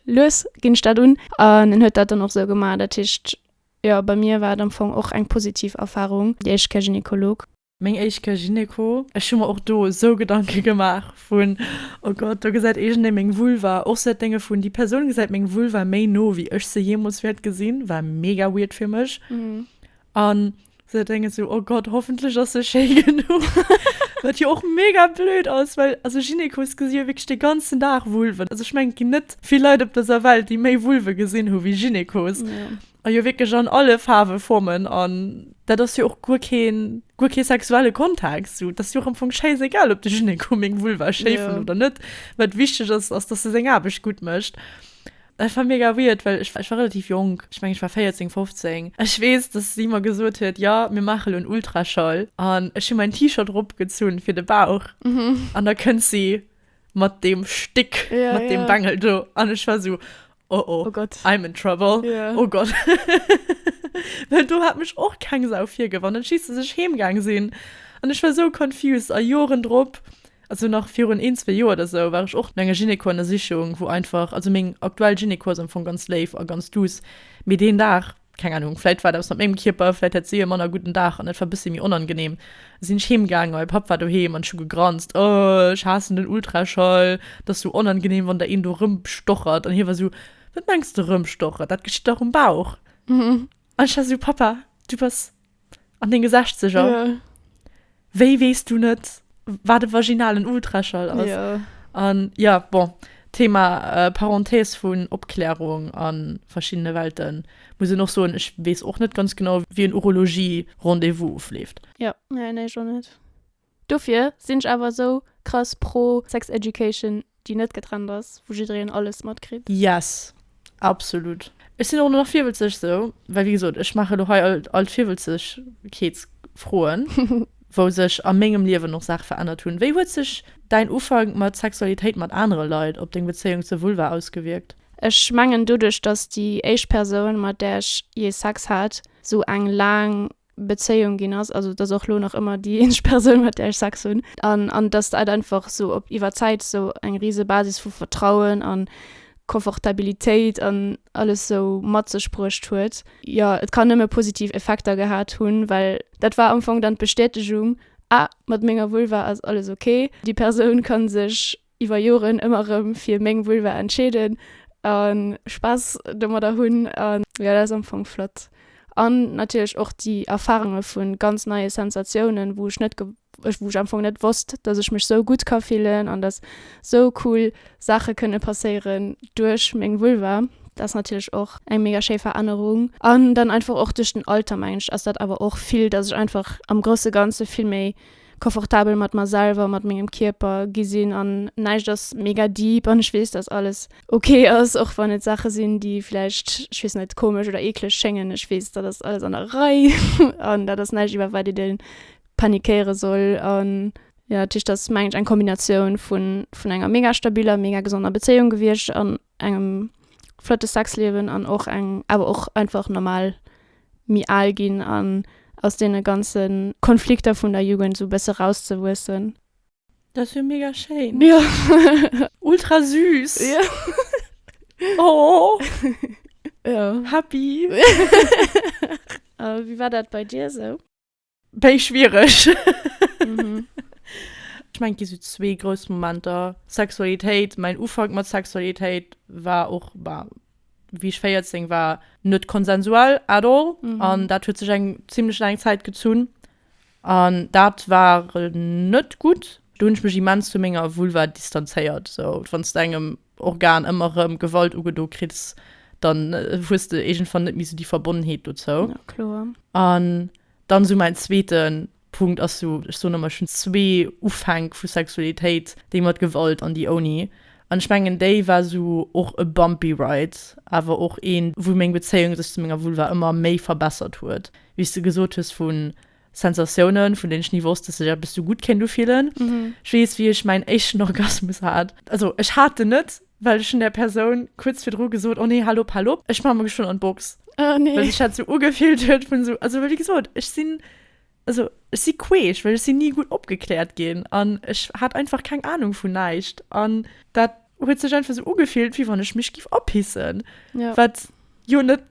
lues ginn ech dat un. An en huet dat dann och sou gemaach. Dat heescht jo bei mir war et am Fong och eng positiv Erfarung déi éischt Kä Gynekolog. Meng éischt Kéier Gynéco. Ech hu mer och do esou Gedanke gemaach vun, oh Gott, do gesäit iergendee meng Vulva. Och sou dat Dénge vun, déi Persoun gesäit meng Vulva méi no, wéi ech se jeemools wäert gesinn, war mega weird fir mech. An sou dat Dénge sou, oh Gott, hoffentlech ass se schéi genuch. Wat jo och mega blöd ass, well also Gynécos gesi jo wierklech de ganzen Dag Vulven. Also ech mengen, et ginn net vill Leit op dëser Welt, déi méi Vulve gesinn hu wéi Gynécos. A jo wierklech an alle Faarwen, Formen an dat ass jo och guer keen, guer kee sexuelle Kontext. Sou, 't ass jo och am Fong schéissegal, ob de Gyneko meng Vulva schéi fënnt oder net. Wat wichteg ass, ass, dass e seng Aarbecht gutt mécht. Dat war mega weird, well ech war relativ jonk, ech mengen, ech war 14, 15. Ech weess, dass si mer gesot huet, Jo, mir maache lo en Ultraschall. An ech hu mäin T-Shirt eropgezunn fir de Bauch an da kënnt si mat deem Stéck, mat deem Bengel do. An ech war sou. Oh oh, oh Gott. I'm in trouble. Yeah. Oh Gott. Well do hat mech och keng Sau virgef an dann schiessen sech heemgaang sinn an ech war sou confused a Joren drop, also nach virun een, zwee Joer oder sou, war ech och an enger Gynéco an der Sichung, wou einfach, also meng aktuell Gynéco ass am Fong ganz léif a ganz duuss, mee deen Dag, Keng Ahnung, vläit war et eppes mat mengem Kierper, vläit hat si e manner gudden Dag an et war bëssi méi onangeneem. Da sinn ech heem gaangen a mäi Papp war doheem an ech hu gegranzt, Oh, ech haassen den Ultraschall, et ass esou onangeneem, wann der een do rëmstochert. An hie war esou, Wat mengs de rëmstochert, dat geschitt dach um Bauch. An ech war esou, Pappa, du bass An denge Sechzeger? Ja. Wéi weess du net, wat e vaginalen Ultraschall ass? Ja. An ja, bon, Thema Parenthèse vun Opklärung a verschiddene Welten, muss een och soen, ech weess och net ganz genau, wéi en Urologie-Rendez-vous ofleeft. Jo, nee, ech och net. Dofir sinn ech awer esou krass pro sex education déi net getrennt ass, wou jiddereen alles matkritt. Yes, absolut. Ech sinn och nach virwëtzeg esou, well wéi gesot ech maache lo hei all d'Virwëtzegkeetsfroen, wou sech a mengem Liewen och Saache verännert hunn. Wéi huet sech däin Ufank mat Sexualitéit mat anere Leit op deng Bezéiung zur Vulva ausgewierkt? Ech mengen doduerch, dass déi éischt Persoun mat där ech jee Sex hat, esou eng laang Bezéiung ginn ass, also et ass och elo nach ëmmer déi eenzeg Persoun, mat där ech Sex hunn, an an datt dat einfach esou op iwwer Zäit esou eng rise Basis vu Vertrauen an Confortabilitéit an alles esou mat sech bruecht huet. Jo, et kann nëmme positiv Effekter gehat hunn, well dat war am Fong dann d'Bestätegung, Ah, mat menger Vulva ass alles ok, déi Persoun ka sech iwwer Joren ëmmer erëm fir meng Vulva entscheeden a Spaass domadder hunn an jo dat ass am Fong flott an natierlech och déi Erfarunge vu ganz neie Sensatiounen wou ech net ge wou ech am Fong net wosst dass ech mech sou gutt ka fillen an dass sou cool Saache kënne passéieren duerch meng Vulva. Dat ass natierlech och eng mega schéi Verännerung an dann einfach och duerch den Alter mengen ech ass dat awer och vill dass ech einfach am grousse ganze vill méi Confortabel mat mer selwer, mat mengem Kierper gi sinn an näischt ass mega deep an ech weess, dass alles ok ass, och wann et Saache sinn, déi vläicht, ech weess net, komesch oder eekleg schéngen. Ech weess, dat ass alles an der Rei an dat ass näischt, iwwer wat ee däerf panikéiere soll. An jo, dat heescht, dat ass, mengen ech, eng Kombinatioun vun enger mega stabiler, mega gesonder Bezéiung gewiescht an engem flotte Sexliewen an och eng awer och einfach normal méi al ginn an aus deene ganze Konflikter vun der Jugend sou bësse rauszewuessen. Dat ass jo mega schéin. Jo. Ultra süß. Jo. Oh. Jo. Happy. A wéi war dat bei dir esou? Béi schwiereg. Mhm. Ech mengen, et gi sou zwee grouss Momenter. Sexualitéit, mäin Ufank mat Sexualitéit war och, bah, wéi ech 14 war, net konsensuell at all. Mhm. An dat huet sech eng zimlech laang Zäit gezunn. An dat war net gutt. Do hunn ech mech immens vu menger Vulva distanzéiert, sou. Wann s de engem Organ ëmmer rëm Gewalt ugedo kriss, dann hues de iergendwann net méi esou déi Verbonnenheet dozou. Ja, kloer. An dann esou mäin zweete Punkt ass esou, ech soen ëmmer, ech hunn zwee Ufänk vu Sexualitéit, déi mat Gewalt an déi ouni. An ech mengen, déi war esou och e bumpy ride, awer och een, wou meng Bezéiung sech zu menger Vulva ëmmer méi verbessert huet, wéi s de gesot hues, vu Sensatiounen, vun deenen ech ni wosst, dass sech eppes esou gutt kéint ufillen. Ech weess, wéi ech mäin éischten Orgasmus hat. Also, ech hat en net, well ech hunn där Persoun kuerz virdru gesot, Oh nee, hal op, hal op, ech maache mer geschwënn an d'Box. Well sech dat esou ugefillt huet vun esou, also, well wéi gesot, ech sinn, also, ech si queesch, well ech sinn ni gutt opgekläert ginn an ech hat einfach keng Anung vun näischt an dat. huet sech einfach so ugefillt wie wann ech mech giff apissen ja. wat jo net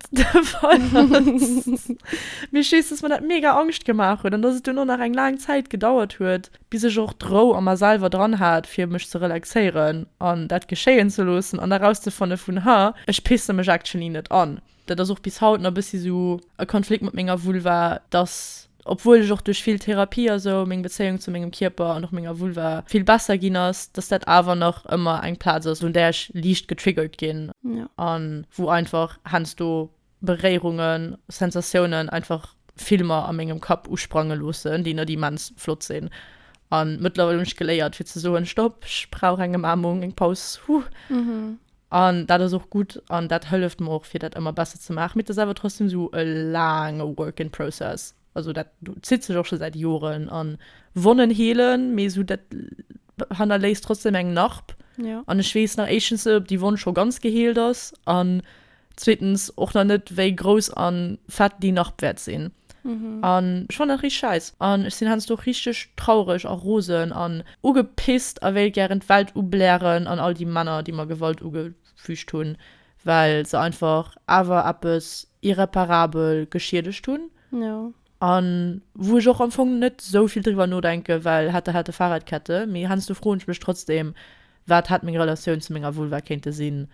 mir schies dass man dat mega angscht gemacht huet an dass es du nur nach eng lang Zeit gedauert huet bis ech och drou an mer selber dran hat fir mech ze relaxéieren an dat geschéien ze loossen an eraus ze fanne vun ha ech pisse mech actually net an Dat ass och bis haut na bëssi sou e Konflikt mat menger Vulva, dass obwuel ech och duerch vill Therapie a sou meng Bezéiung zu mengem Kierper an och menger Vulva vill besser ginn ass, dass dat awer nach ëmmer eng Plaz ass un där ech liicht getriggert ginn a wou einfach heiansdo Beréierungen, Sensatiounen einfach Filmer a mengem Kapp usprange loossen, déi net immens flott sinn. A mëttlerweil hunn ech geléiert fir ze soen, Stopp, ech brauch eng Ëmaarmung, eng Paus, huh. An dat ass och gutt an dat hëlleft mer och fir dat ëmmer besser ze maachen. Mee et ass awer trotzdem esou e laange work in process. Also dat zitt sech och scho säit Joren an Wonnen heelen, mee esou dat hannerléisst trotzdem eng Narb. Ja. An ech weess nach éischtens net, ob déi Wonn scho ganz geheelt ass an zweetens och nach net, wéi grouss an fett déi Narb wäert sinn. an ech fannen dat richteg scheiss an ech sinn heiansdo richteg traureg a rosen an ugepisst a wéilt gären d'Welt ublären an all déi Männer déi mer Gewalt ugefüügt hunn well se einfach awer eppes irreparabel geschiedegt hunn a wou ech och am Fong net esou vill driwwer nodenken well hätte hätte Fahrradkette mee heiansdo froen ech mech trotzdeem wat hätt meng Relatioun zu menger Vulva kéinte sinn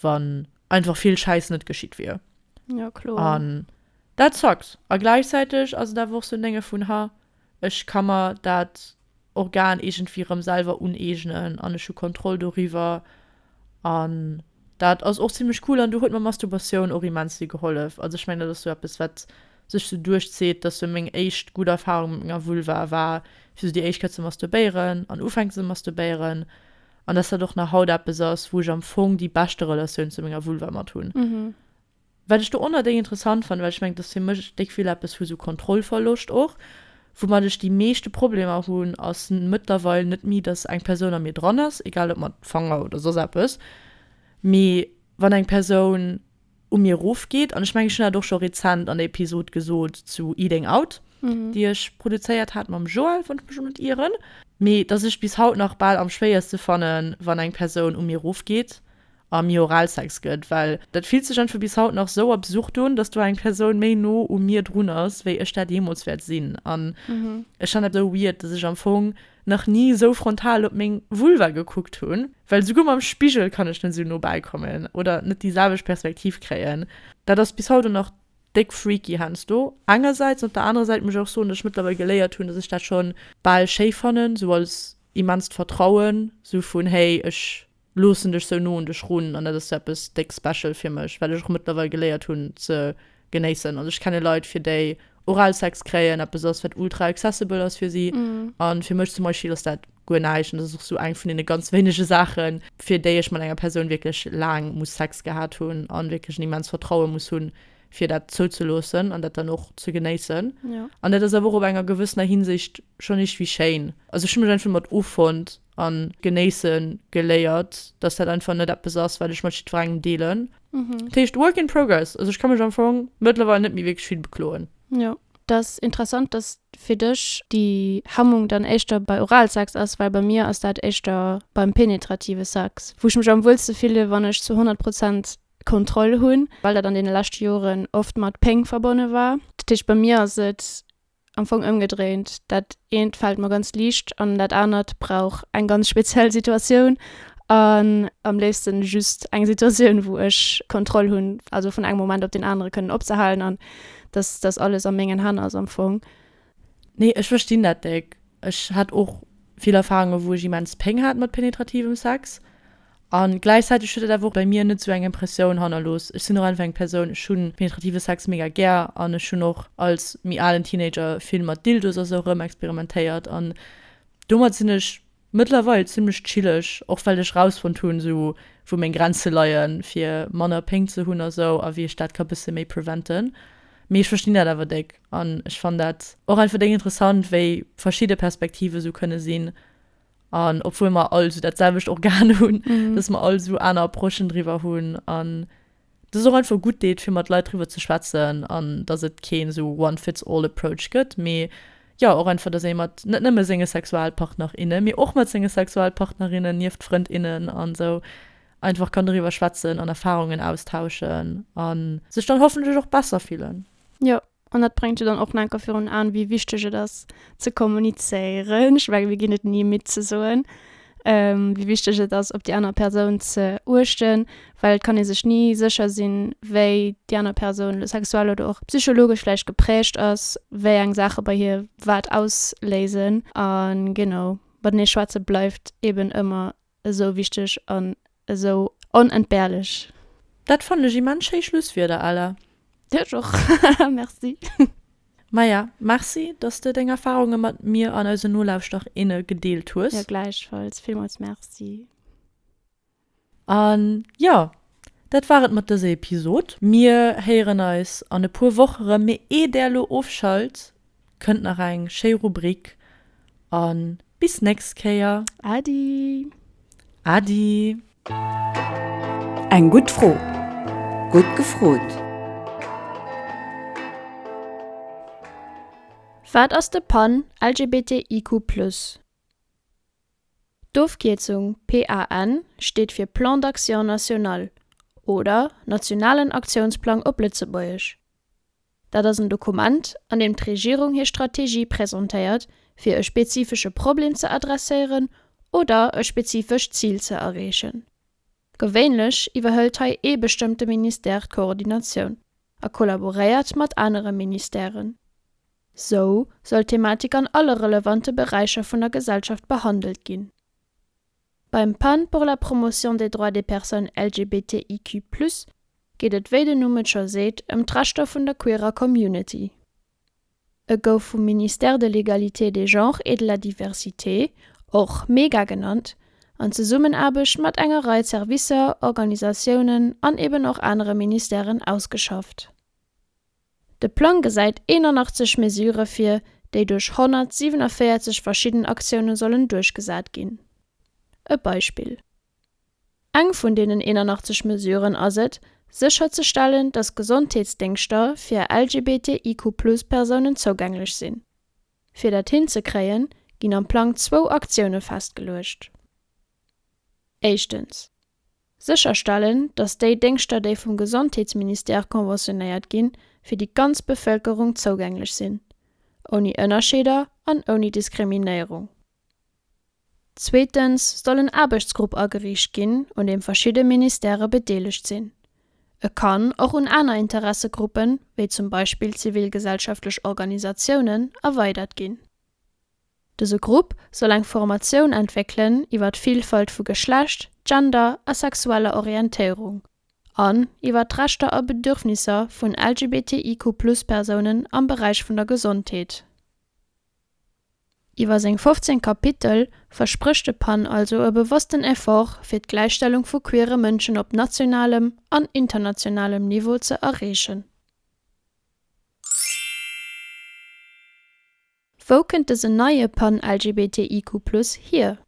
wann einfach vill Schäiss net geschitt wier. Dat zackt, a gläichzäiteg ass et awer och sou en Dénge vun, Ha, ech ka mer dat Organ iergendwéi erëm selwer uneegnen an ech hu Kontroll doriwwer. An dat ass och zimmlech cool an do huet mer Mastubatioun och immens vill gehollef. Also ech mengen, dat ass sou eppes, wat sech sou duerchzitt, dass sou meng éischt gutt Erfarung mat menger Vulva war, fir sou déi éischt Kéier ze masturbéieren an ufänken ze masturbéieren. An dass dat och nach haut eppes ass, wou ech am Fong déi beschte Relatioun zu menger Vulva mat hunn. Wat ech dorunner déi interessant fannen, well ech mengen, dass fir mech e Stéck vill eppes vu esou Kontrollverloscht och, woumat ech déi meeschte Problemer hunn, ass mëttlerweil net méi, dass eng Persoun a mir dran ass, egal ob mat Fanger oder soss eppes, mee wann eng Persoun u mir erofgeet. An ech mengen, ech hunn dat och scho rezent an der Episod gesot zu Eating Out, déi ech produzéiert hat mam Joël, wann ech mech net ieren, mee dass ech bis haut nach bal am schwéierste fannen, wann eng Persoun u mir erofgeet a mir Oralsex gëtt, well dat fillt sech einfach bis haut nach sou absurd un, dass do eng Persoun méi no u mir drun ass, wéi ech dat jeemools wäert sinn. An ech fannen dat sou weird, dass ech am Fong nach ni sou frontal op meng Vulva gekuckt hunn, well souguer mam Spigel kann ech net sou no bäi kommen oder net déi selwecht Perspektiv kréien. Dat ass bis haut och nach déck freaky heiansdo engersäits, an op der anerer Säit muss ech och soen, dass ech mëttlerweil geléiert hunn, dass ech dat scho bal schéi fannen, sou als immenst Vertrauen, sou vun, hey, ech. loossen dech sou no un dech run an dat ass eppes déck special fir mech well ech och mëttlerweil geléiert hunn ze genéissen. Also ech kenne Leit fir déi Oralsex kréien eppes ass wat ultra accessible ass fir si an fir mech zum Beispill ass dat guer näischt an dat ass och sou eng vun deene ganz wéinege Saachen fir déi ech mat enger Persoun wierklech laang muss Sex gehat hunn an wierklech en immens Vertrauen muss hunn fir dat zouzeloossen an dat dann och ze genéissen an dat ass awer och op enger gewëssener Hinsicht schonn iergtwéi schéin. Also ech hunn mech einfach domat offonnt. an genéissen geléiert, dass dat einfach net eppes ass, wat ech mat jiddwerengem deelen. Mhm. Dat heescht, work in progress. Also ech ka mech am Fong mëttlerweil net méi wierklech vill bekloen. Jo. Et ass interessant, dass fir dech déi Hemmung dann éischter bei Oralsex ass, well bei mir ass dat éischter beim penetrative Sex, wou ech mech am wuelste fille wann ech zu 100 Prozent Kontroll hunn, well dat an deene leschte Joren oft mat Péng verbonne war. Dat heescht, bei mir ass et am Fong ëmgedréint, dat eent fält mer ganz liicht an dat anert brauch eng ganz speziell Situatioun an am léifsten just eng Situatioun wou ech Kontroll hunn, also vun engem Moment op deen anere kënnen opzehalen an dass dass alles a mengen Hänn ass am Fong. Nee ech verstinn dat déck. Ech hat och vill Erfahrungen wou ech immens Péng hat mat penetrativem Sex. A gläichzäiteg huet et awer och bei mir net esou eng Impressioun hannerlooss. Ech sinn och einfach eng Persoun, ech hu penetrative Sex mega gär an ech hunn och als méi alen Teenager vill mat Dildos a sou erëm experimentéiert an domat sinn ech mëttlerweil zimmlech chilleg, och well ech rausfonnt hunn, esou wou meng Grenze leie fir manner Péng ze hunn a sou a wéi ech dat ka bësse méi preventen. Mee ech verstinn dat awer déck an ech fann dat och einfach déck interessant, wéi verschidde Perspektive sou kënne sinn. an obwohl mer all so dat selwecht Organ hunn, mhm. dass mer all so aner Approchen driwwer hunn an das ist auch einfach gut deet fir mat Leiit drüber ze schwätzen an dass et keen so one fits all approach gëtt mee ja och einfach dass ee mat net nëmme senge Sexualpartner inne mir och mat senge Sexualpartnerinnen nieft Frënd innen an so einfach kann darüber schwätzen an Erfahrungen austauschen an sech dann hoffentlech och besser fillen ja An dat bréngt jo dann och nach enker virun Aen, wéi wichteg et ass, ze kommunizéieren. Ech menge mir ginn et ni midd ze soen, wéi wichteg et ass, op déi aner Persoun ze uechten, well et kann ee sech ni sécher sinn, wéi déi aner Persoun elo sexuell oder och psychologesch vläicht geprägt ass, wéi eng Saache bei hir wat ausléisen. A genau, matenee schwätze bleift eeben ëmmer Esou wichteg an esou onentbehrlech. Dat fannen ech immens schéi Schlusswierder, Ella. Ech och. Merci. Maja, merci, dass de deng Erfahrunge mat mir an eisen Nolauschter, inne gedeelt hues. Jo, gläichfalls. Villmools merci. An jo, dat war et mat dëse Episod. Mir héieren eis an e puer Woch erëm, mee eeh der elo ofschalt, Kënnt nach eng schéi Rubrik an bis nächst Kéier. Adi! Adi! Eng gutt Fro, gutt gefrot! Wat ass de Pan LGBTIQ plus? D'Ofkierzung PAN steet fir Plan d'Action National oder Nationalen Aktiounsplang op Lëtzebuergesch. Dat ass en Dokument, an deem d'Regierung hir Strategie presentéiert, fir e spezifesche Problem ze adresséieren oder e spezifescht Zil ze erreechen. Gewéinlech iwwerhëlt hei ee bestëmmte Ministère d'Koordinatioun a kollaboréiert mat anere Ministèren. Sou soll d'Thematik an alle relevante Beräicher vun der Gesellschaft behandelt ginn. Beim Pan pour la promotion des droits des personnes LGBTIQ plus geet et, wéi den Numm et scho seet, ëm d'Rechter vun der queerer Community. E gouf vum Ministère de l'Égalité des genres et de la diversité, och mega genannt, an Zesummenaarbecht mat enger Rei Servicer, Organisatiounen an eben och anere Ministèren ausgeschafft. De Plang gesäit 81 Mesurë vir, déi duerch 147 verschidden Aktioune sollen duerchgesat ginn. E Beispill, Eng vun deenen 81 Mesuren ass et, sécherzestellen, datt Gesondheetsdéngschter fir LGBTIQ-Plus-Persounen zougänglech sinn. Fir dat hinzekréien, ginn am Plang zwou Aktioune festgeluecht. Éischtens. Sécherstellen, datt déi Déngschter, déi vum Gesondheetsministère konventionéiert ginn, fir déi ganz Bevëlkerung zougänglech sinn, ouni Ënnerscheeder an ouni Diskriminéierung. Zweetens soll en Aarbechtsgrupp ageriicht ginn, un deem verschidde Ministèrë bedeelegt sinn. E kann och un aner Interessegruppen, wéi zum Beispill zivilgesellschaftlech Organisatiounen, erweidert ginn. Dëse Grupp soll eng Formatioun entwéckelen iwwer d'Vilfalt vu Geschlecht, Gender a sexueller Orientéierung an iwwer d'Rechter a Bedürfnisser vun LGBTIQ-Plus-Persounen am Beräich vun der Gesondheet. Iwwer seng 15 Kapitel versprécht de Pan also e bewossten Effort, fir d'Gläichstellung vu queere Mënschen op nationalem an internationalem Niveau ze erreechen. Wou kënnt dësen neie Pan-LGBTIQ Plus hier?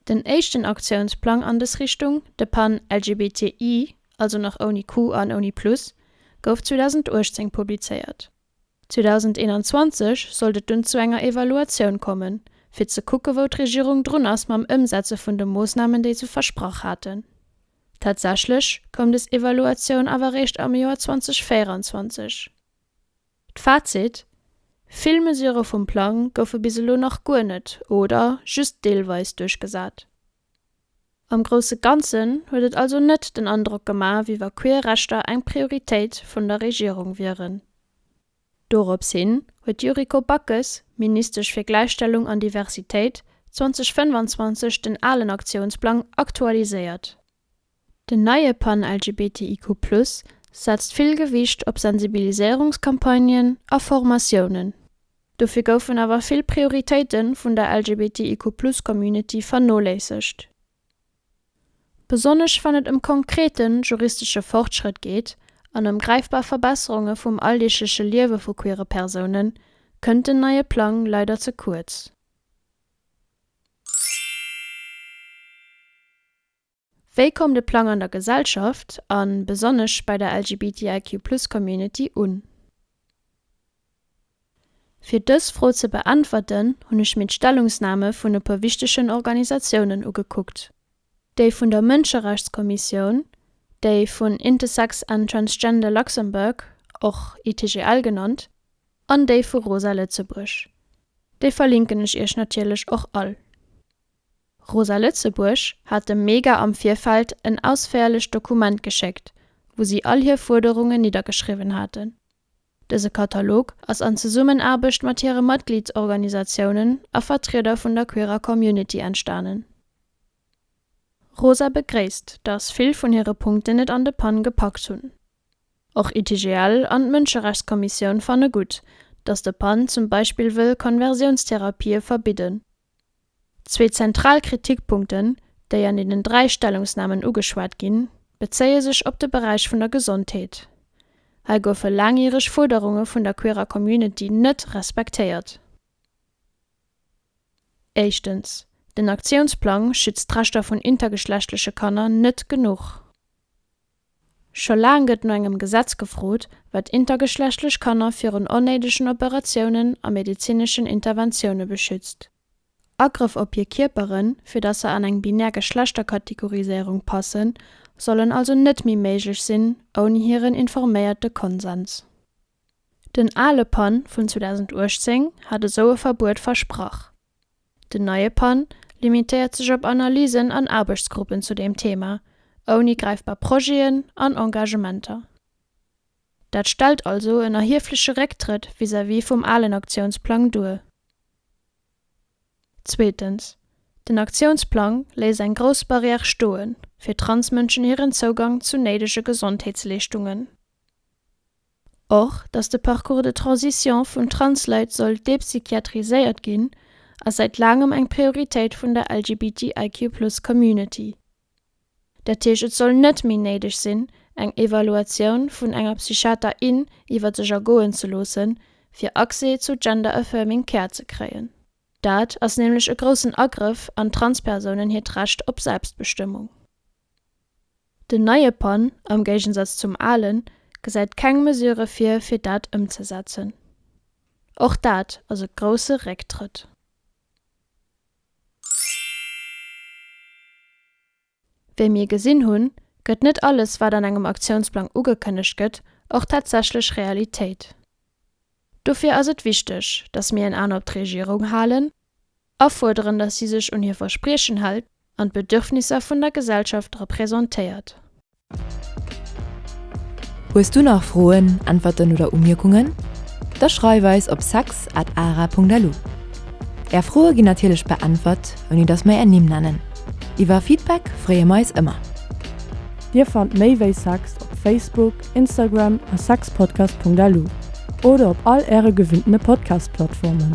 Den éischten Aktiounsplang an des Richtung, de Pan-LGBTI, also nach ouni Q an ouni Plus, gouf 2018 publizéiert. 2021 sollt et dunn zu enger Evaluatioun kommen, fir ze kucke wou d'Regierung drun ass mam Ëmsetze vun de Moossnamen, déi se versprach haten. Tatsächlech koum des Evaluatioun awer réischt am Joer 2024. D'Fazit, Vill Mesure vum Plang goufe bis elo nach guer net oder just deelweis duerchgesat. Am grousse Ganzen huet et also net den Androck gemaach, wéi wa queer Rechter eng Prioritéit vun der Regierung wieren. Dorops hin huet d'Yuriko Backes, Ministesch fir Gläichstellung an Diversitéit, 2025 den alen Aktiounsplang aktualiséiert. Den neie Pan LGBTIQ+ setzt vill Gewicht op Sensibiliséierungscampagnen a Formatiounen. Dofir goufen awer vill Prioritéite vun der LGBTIQ+ Community vernoléissegt. Besonnesch wann et ëm konkrete juristesche Fortschrëtt geet an ëm gräifbar Verbesserunge vum alldeegleche Liewe vu queere Persoune kënnt den neie Plang leider ze kuerz. Wéi koum de Plang an der Gesellschaft a besonnesch bei der LGBTIQ-Plus-Community un? Fir dës Fro ze beäntwerten, hunn ech mir d'Stellungsname vun e puer wichtegen Organisatiounen ugekuckt. Déi vun der Mënscherechtskommissioun, déi vun Intersex and Transgender Luxembourg, och ITGL genannt, an déi vu Rosa Lëtzebuerg. Déi verlinken ech Iech natierlech och all. Rosa Lëtzebuerg hat dem MEGA am Virfeld en ausféierlecht Dokument geschéckt, wou si all hir Fuerderungen niddergeschriwwen haten. Dëse Katalog ass an Zesummenaarbecht mat hire Matgliedsorganisatiounen a Vertrieder vun der queerer Community entstanen. Rosa begréisst, datt vill vun hire Punkten et an de Pann gepackt hunn. Och ITGL an d'Mënscherechtskommissioun fanne gutt, datt de Pann zum Beispill wëll Konversiounstherapie verbidden. Zwee zentral Kritikpunkten, déi an deenen dräi Stellungsnamen ugeschwat ginn, bezéie sech op de Beräich vun der Gesondheet. Hei goufe laangjäreg Fuerderunge vun der queerer Community net respektéiert. Éischtens, den Aktiounsplang schützt d'Rechter vun intergeschlechtleche Kanner net genuch. Scho laang gëtt no engem Gesetz gefrot, wat intergeschlechtlech Kanner virun onnéidegen Operatiounen a medezineschen Interventioune beschützt. Agrëff op hir Kierperen, fir datt se an eng binär Geschlechterkategoriséierung passen, sollen also net méi méiglech sinn ouni hiren informéierte Konsens. Den ale Pan vun 2018 hat esou e Verbuet versprach. Den neie Pan limitéiert sech op Analysen an Aarbechtsgruppen zu deem Thema, ouni gräifbar Projeten an Engagementer. Dat stellt also en erhiefleche Récktrëtt vis-à-vis vum alen Aktiounsplang duer. Zweetens, den Aktiounsplang léisst eng grouss Barrière stoe fir Transmënschen hiren Zougang zu néidege Gesondheetsleeschtungen. Och, datt de Parcours de transition vun Transleit soll dépsychiatriséiert ginn, ass säit laangem eng Prioritéit vun der LGBTIQ-Plus-Community. Dat heescht, et soll net méi néideg sinn, eng Evaluatioun vun enger Psychiater, in iwwer sech ergoen ze loossen, fir Accès zu Gender-Affirming Care ze kréien. Dat ass nämlech e groussen Agrëff an Transpersounen hiert Recht op Selbstbestëmmung. Den neie Pan, am Géigensatz zum alen, gesäit keng Mesure vir, fir dat ëmzesetzen. Och dat ass e grousse Récktrëtt. Wéi mir gesinn hunn, gëtt net alles, wat an engem Aktiounsplang ugekënnegt gëtt, och tatsächlech Realitéit. Dofir ass et wichteg, dass mir en An op d'Regierung halen Afuerderen, datt si sech un hir Verspriechen hält an d'Bedürfnisser vun der Gesellschaft representéiert. Hues du nach Froen, Äntwerten oder Umierkungen? Da schreif eis op sex at ara Punkt lu. Är Froe ginn natierlech beäntwert, ouni datt mer är Nimm nennen. Iwwer Feedback freeë mer eis ëmmer. Dir fannt méi wéi sex op Facebook, Instagram a sexpodcast Punkt lu oder op all äre gewinnene Podcast-Plattformen.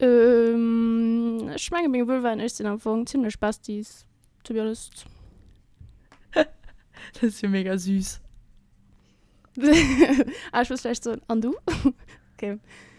Euhm ech mengen meng Vulva an ech sinn am Fong zimlech Besties to be honest. Dat ass jo mega süß. Ah ech muss vläicht soen, an du? Ok.